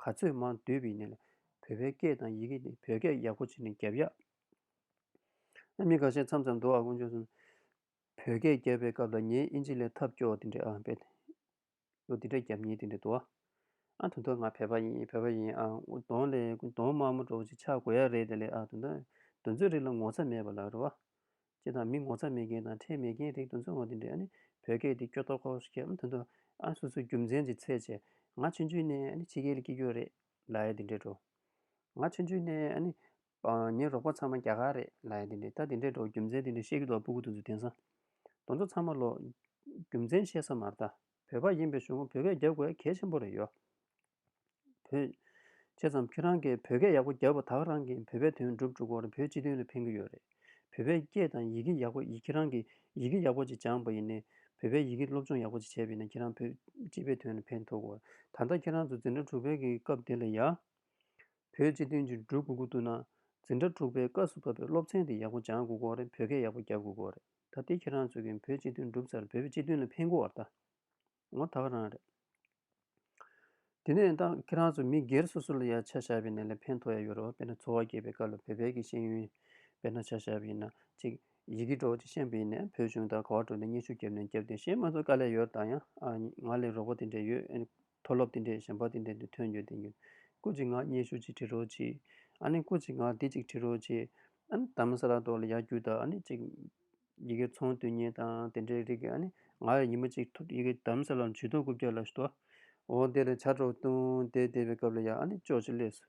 ག་ཚོད་མང་བསྡུས་པི་ནི་ལ་བོད་པའི་སྐད་དང་ཡི་གི་དེ་བོད་སྐད་ཡག་པོ་བྱེད་ནས་རྒྱབ་ཡག་ཨ་མི་ག་ཤེད་མཚམས་མཚམས་འདུག་ཨ་ཀོང་ཇོ་སོན་བོད་སྐད་རྒྱབ་པའི་སྐབས་ལ་ངའི་ཨིན་ཇི་ལས་ཐབས་སྐྱོ་བ་དེ་འདྲ་ཨ་བེད་ལོ་འདི་འདྲ་རྒྱབ་ཉེས་འདི་འདྲ་འདུག་ཨ། ཨ་ད་དུང་ང་བོད་པ་ཡིན་བོད་པ་ཡིན་ཨ། གདོང་ལས་གདོང་དམར་མོ་འགྲོ་ཅིག་ཆགས་དགོས་ཡ་རེད་ད་ལས་ཨ། དོན་རྩོད་རིགས་ལ་ངོ་ཚ་མེད་པ་ལ་རེད་བ། ཅེས་དང་མི་ངོ་ཚ་མེད་མཁན་དང་ཁྲེལ་མེད་མཁན་རིགས་དོན་རྩོད་ངོ་འདི་འདྲས་ཨ་ནི་བོད་སྐད་འདི་སྐྱོ་ཏོག་ཏོག་ཞིག་སྐད་ཨ་དོན་དུ་ཨ་སོ་སོའི་རྒྱུ་མཚན་གྱི་ཚད་ཆེ། ང་ཆུང་ཆུང་ནས་ཨ་ནི་ཕྱི་རྒྱལ་ལ་སྐྱིད་རྒྱུ་རེད་ལ་ཡ་འདི་འདྲས་འགྲོ། ང་ཆུང་ཆུང་ནས་ཨ་ནི་ངའི་རོགས་པ་ཚང་མ་རྒྱ་གར་རེད། ལ་ཡ་དེ་འདྲས་ད་དེ་འདྲས་འགྲོ་རྒྱུ་མཚན་དེ་འདྲས་བཤད་རྒྱུ་དོག་པོ་གུ་དོན་ཚོ་དེང་སང། དོན་ཚོ་ཚང་མ་ལོག། རྒྱུ་མཚན་བཤད་ས་མ་རྟ། བོད་པ་ཡིན་པའི་གཞུང་ལུགས་བོད་སྐད་རྒྱབ་དགོས་གལ་ཆེན་པོ་རེད་ཡོད། བོད། བྱས་ཙམ་ཁྱོད་རང་གིས་བོད་སྐད་ཡག་པོ་རྒྱབ་པ་དག་རང་གིས་བོད་པའི་དོན་སྒྲུབ་འཇུག་གོར་བོད་སྤྱི་དོན་ལ་ཕན་གི་ཡོད་རེད། བོད་པའི་སྐད་དང་ཡི་གེ་ཡག་པོ་ཡིན་ཁྱེད་རང་གིས་ཡི་གེ་ཡག་པོ་ཅིག་སྦྱངས་པ་ཡིན་ནས། བོད་པའི་ཡི་གེ་སློབ་སྦྱོང་ཡག་པོ་ཅིག་བྱས་པ་ཡིན་ན་ཁྱེད་རང་བོད་སྤྱི་པའི་དོན་ལ་ཕན་ཐོག་གོ། ད་ལྟ་ཁྱེད་རང་ཚོ་འཛིན་གྲྭ་དྲུག་པའི་གི་སྐབས་དེ་ལ་ཡ། བོད་སྤྱི་དོན་གྱི་འབྲུ་གུ་གུ་བཏུ་ན། འཛིན་གྲྭ་དྲུག་པའི་སྐབས་སུ་བབས་པའི་སློབ་ཚན་དེ་ཡག་པོ་སྦྱང་དགོས་སྐོར་རེད་བོད་སྐད་ཡག་པོ་རྒྱབ་དགོས་སྐོར་རེད་ད་ལྟའི་ཁྱེད་རང་ཚོས་གིན་བོད་སྤྱི་དོན་འགྲུབ་ཚར་བོད་པའི་སྤྱི་དོན་ལ་ཕན་དགོས་བ་ད་ངོ་ད་ག་རང་རེད། དེ་ནས་ད་ཁྱེད་རང་ཚོ་མི་སྒེར་སོ་སོ་ལ་ཡ་ཆ་བཞག་པའི་ནས་ལ་ཕན་ཐོག་ཡ་ཡོད་རེད་བ་དཔེར་ན་འཚོ་བ་སྐྱེལ་པའི་སྐབས་ལ་བོད་པའི་གི་ཤེས་ཡོན་དཔེར་ན་ཆ་བཞག་པའི་ན་ཅིག་ཡི་གེ་འགྲོ་ཅིག་ཤན་པའི་ནས་བོད་གཞུང་ད་ག་བ་འགྲོ་འདི་སྙན་ཞུ་རྒྱབ་ནས་རྒྱབ་དེ་ཤེས་མ་ཚོ་དཀའ་ལས་ཡོད་རེད་ད་ཡང་ང་ལས་རོགས་པ་དེ་འདྲས་ཡོད་མཐོ་སློབ་དེ་འདྲའི་གཞན་པ་དེ་འདྲའི་དུས་ཐོན་ཡོད་དེ་ཡིན། སྐུ་གཅིག་ངག་སྙན་ཞུ་གཅིག་བྲི་རོགས་གྱིས། ཨ་ནི་སྐུ་གཅིག་ངག་དེབ་གཅིག་བྲི་རོགས་གྱིས། ཨ་ནི་དམ་ས་ར་ཏོག་ལ་ཡར་རྒྱུག་དང་ཨ་ནི་གཅིག། ཡི་གེ་ཚོང་དུས་ཉེས་དང་དེ་འདྲའི་རིགས། ཨ་ནི་ང་ཡི་ཉི་མ་གཅིག་ཐུབ་ཡི་གེ་དམ་ས་ལ་འཇུས་ཐོ་སྐུ་བརྒྱ་ལ་ཞུ། འོ་དེ་ལ་བྱ་སྒྲོག་བཏུང་དེ་བལྟས་པའི་སྐབས་ལ་ཡང་ཨ་ནི་ཅོག་ཅེ་ལས་སུ།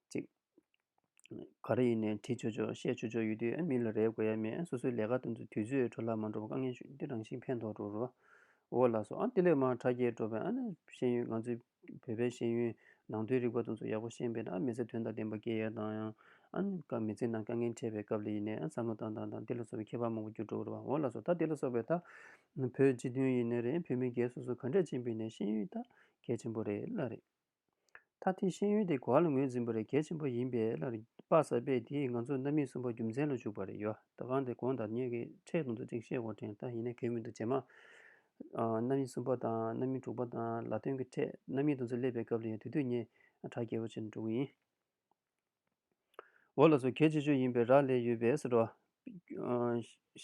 ཅིག། ག་རེ་ཡིན་ནས་དྲིས་ཆོག་ཆོག་བཤད་ཆོག་ཆོག་ཡོད་དུས་ཨ་མི་ལ་རེ་དགོས་ཡ་མེད་སོ་སོའི་ལས་ཀ་དང་དུས་ཚོད་འཕྲོ་བརླག་མ་འགྲོ་བར་དཀའ་ངལ་ཞུ་འདི་རང་བཞིན་ཕན་ཐོགས་འགྲོ་རུ་འོ་ལགས་སོ་ཨ་ཏི་ལེ་མ་དྲ་རྒྱའི་འགྲོ་བས་ཨ་ནི་ཤེས་ཡོན་ང་ཚོའི་བོད་པའི་ཤེས་ཡོན་ནང་དོན་རིག་པ་དང་ཚོ་ཡག་པོ་ཤེས་པས་ན་ཨ་མི་ཚེ་དོན་དང་ལྡན་པ་སྐྱེལ་ཡ་དང་ཡང་ཨ་ནི་ཀ་མི་ཚེ་ནང་དཀའ་ངལ་འཕྲད་པའི་སྐབས་ལ་ཡིན་ནས་ཨ་བསམ་བློ་བཏང་དང་དང་དེ་ལ་སོགས་པའི་ཁྱད་པར་མང་པོ་གྱུར་འགྲོ་རུ་འོ་ལགས་སོ་ད་དེ་ལ་སོགས་པའི་ད་བོད་སྤྱི་དོན་ཡིན་ནས་རེད་བོད་མི་སྒེར་སོ་སོ་ག་འདྲས་ཕྱིན་པའི་ནས་ཤེས་ཡོན་ད་གལ་ཆེན་པོ་རེད་ལ་རེད། ད་ཐེངས་ཤེས་ཡོན་དེ་གོ་ལ་ངོས་འཛིན་པ་རེད་གལ་ཆེན་པོ་ཡིན་པས་ལར་དཔག་ས་པས་དེས་ང་ཚོ་གནའ་མི་གསུམ་པོ་རྒྱུ་མཚན་ལ་བཞུགས་པ་རེད་ཡོ་ད་གང་དེ་གོང་དར་ཉེ་གི་འཕྲལ་དུང་དུ་ཅིག་བཤད་གོ་དྲན་ད་ཡིན་ན་གལ་མི་འདུག་རྗེས་མ་གནའ་མི་གསུམ་པོ་དང་གནའ་མི་དྲུག་པ་དང་ལ་སྟོན་གི་འཕྲལ་གནའ་མི་དུང་དུ་སླེབས་པའི་སྐབས་ལ་ཡང་དུས་དུས་ངེད་གྲ་རྒྱས་པོ་བྱེད་འགྲོ་གི་ཡིན། འོ་ལ་སོ་གས་སྤྱི་ཆོས་ཡིན་པའི་རག་ལས་ཡོད་པས་སོ།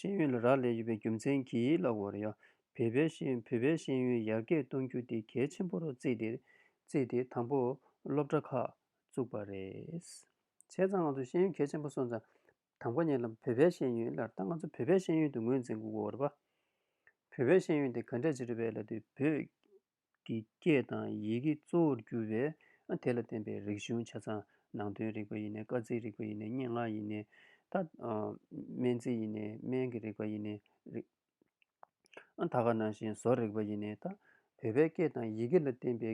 ཤེས་ཡོན་ལ་རག་ལས་ཡོད་པའི་རྒྱུ་མཚན་གྱིས་ལ་འོ་རེད་ཡ། བོད་པའི་ཤེས་ཡོན་ཡར་རྒྱས་གཏོང་རྒྱུ་དེ་གལ་ཆེན་པོར་བརྩིས་ཏེ་དང་པོ་སློབ་གྲྭ་ཁག་བཙུགས་པ་རེད། བྱས་ཙང་ང་ཚོ་ཤེས་ཡོན་གལ་ཆེན་པོ་སོང་ཙང་དང་པོ་ཉེ་ལམ་བོད་པའི་ཤེས་ཡོན་ལར་ད་ང་ཚོ་བོད་པའི་ཤེས་ཡོན་དུ་ངོས་འཛིན་དགོས་འོ་རེད་པ། བོད་པའི་ཤེས་ཡོན་དེ་ག་འདྲས་བྱེད་རེད་པས་ལ་དུས་བོད་ཀྱི་སྐད་དང་ཡི་གེ་གཙོ་བོར་གྱུར་པས་དེ་ལ་བརྟེན་པའི་རིག་གཞུང་ཆ་ཚང་ནང་དོན་རིག་པ་ཡི་ནས་སྐར་རྩིས་རིག་པ་ཡི་ནས་སྙན་ངག་ཡི་ནས་སྨན་རྩིས་ཡི་ནས་སྨན་གྱི་རིག་པ་ཡི་ནས་ཐ་ག་ནང་བཞིན་བཟོ་རིག་པ་ཡི་ནས་བོད་པའི་སྐད་དང་ཡི་གེ་ལ་བརྟེན་པའི་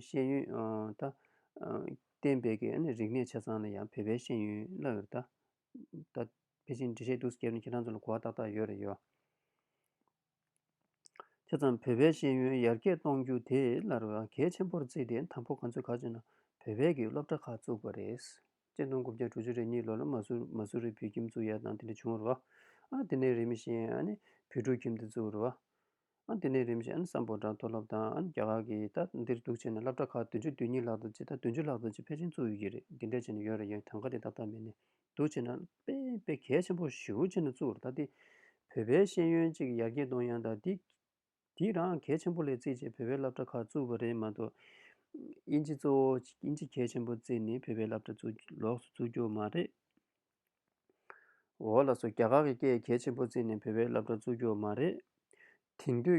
ཤེས་ཡོན་བརྟེན་པའི་རིག་གནས་ཆ་ཚང་ལ་ཡང་བོད་པའི་ཤེས་ཡོན་བློ་ཡོད། དེ་ཙམ་བོད་པའི་ཤེས་ཡོན་ཡར་རྒྱས་གཏོང་རྒྱུ་དེ་སླར་ཡང་གལ་ཆེན་པོར་བརྩིས་ཏེ་དང་པོ་ཁོ་ཚོས་ག་ཚོད་ན་བོད་པའི་གི་སློབ་གྲྭ་ཁག་བཙུགས་པ་རེད། སྤྱི་སྟོང་དགུ་བརྒྱ་དྲུག་ཅུ་རེ་གཉིས་ལོར་ལ་མ་སུ་མ་སུ་རི་བོད་ཁྱིམ་བཙུགས་ཡ་དང་དེ་འདྲ་བྱུང་རོ། ཨ་དེ་ནས་རིམ་བཞིན་ཨ་ནི་བོད་ཕྲུག་ཁྱིམ་དེ་བཙུགས་རོ། ཨ་དེ་ནས་རིམ་བཞིན་ཨ་ནི་སམ་བོད་དྲ་མཐོ་སློབ་དང་ཨ་ནི་རྒྱ་གར་གི་ད་འདིར་གཏུགས་བྱས་ནས་སླབ་གྲྭ་ཁག་བདུན་ཅུ་བདུན་གཉིས་ལྷག་དང་ཅི་ད་བདུན་ཅུ་ལྷག་དང་ཅི་ཕལ་ཆེན་བཙུགས་ཡོད་ཀྱི་རེད་འདི་འདྲ་བྱས་ནས་ཡོད་རེད་ཡང་གྲངས་ཀ་དེ་ཏག་ཏག་མེད་ནས་འདུ་བྱེད་ན། དཔེ་གལ་ཆེན་པོ་བཞི་བོ་ཅི་ན་བཙུགས་རོ་ད་སྟེ། བོད་པའི་ཤེས་ཡོན་ཅིག་ཡར་རྒྱས་གཏོང་ཡང་དང་འདིས་འདིས་རང་གལ་ཆེན་པོ་ལས་བརྩིས་བྱས་བོད་པའི་བསླབ་གྲྭ་ཁག་བཙུགས་པ་རེད་མ་གཏོགས། དབྱིན་ཇི་གཙོ་བོ་དབྱིན་ཇི་གལ་ཆེན་པོ་བརྩིས་ནས་བོད་པའི་བསླབ་གྲྭ་བཙུགས་རྒྱུ་ལོགས་སུ་བཙུགས་རྒྱུ་མ་རེད། འོ་ལ་སོ་རྒྱ་གར་གྱི་སྐད་གལ་ཆེན་པོ་བརྩིས་ནས་བོད་པའི་བསླབ་གྲྭ་བཙུགས་རྒྱུ་མ་རེད། དེང་དུས།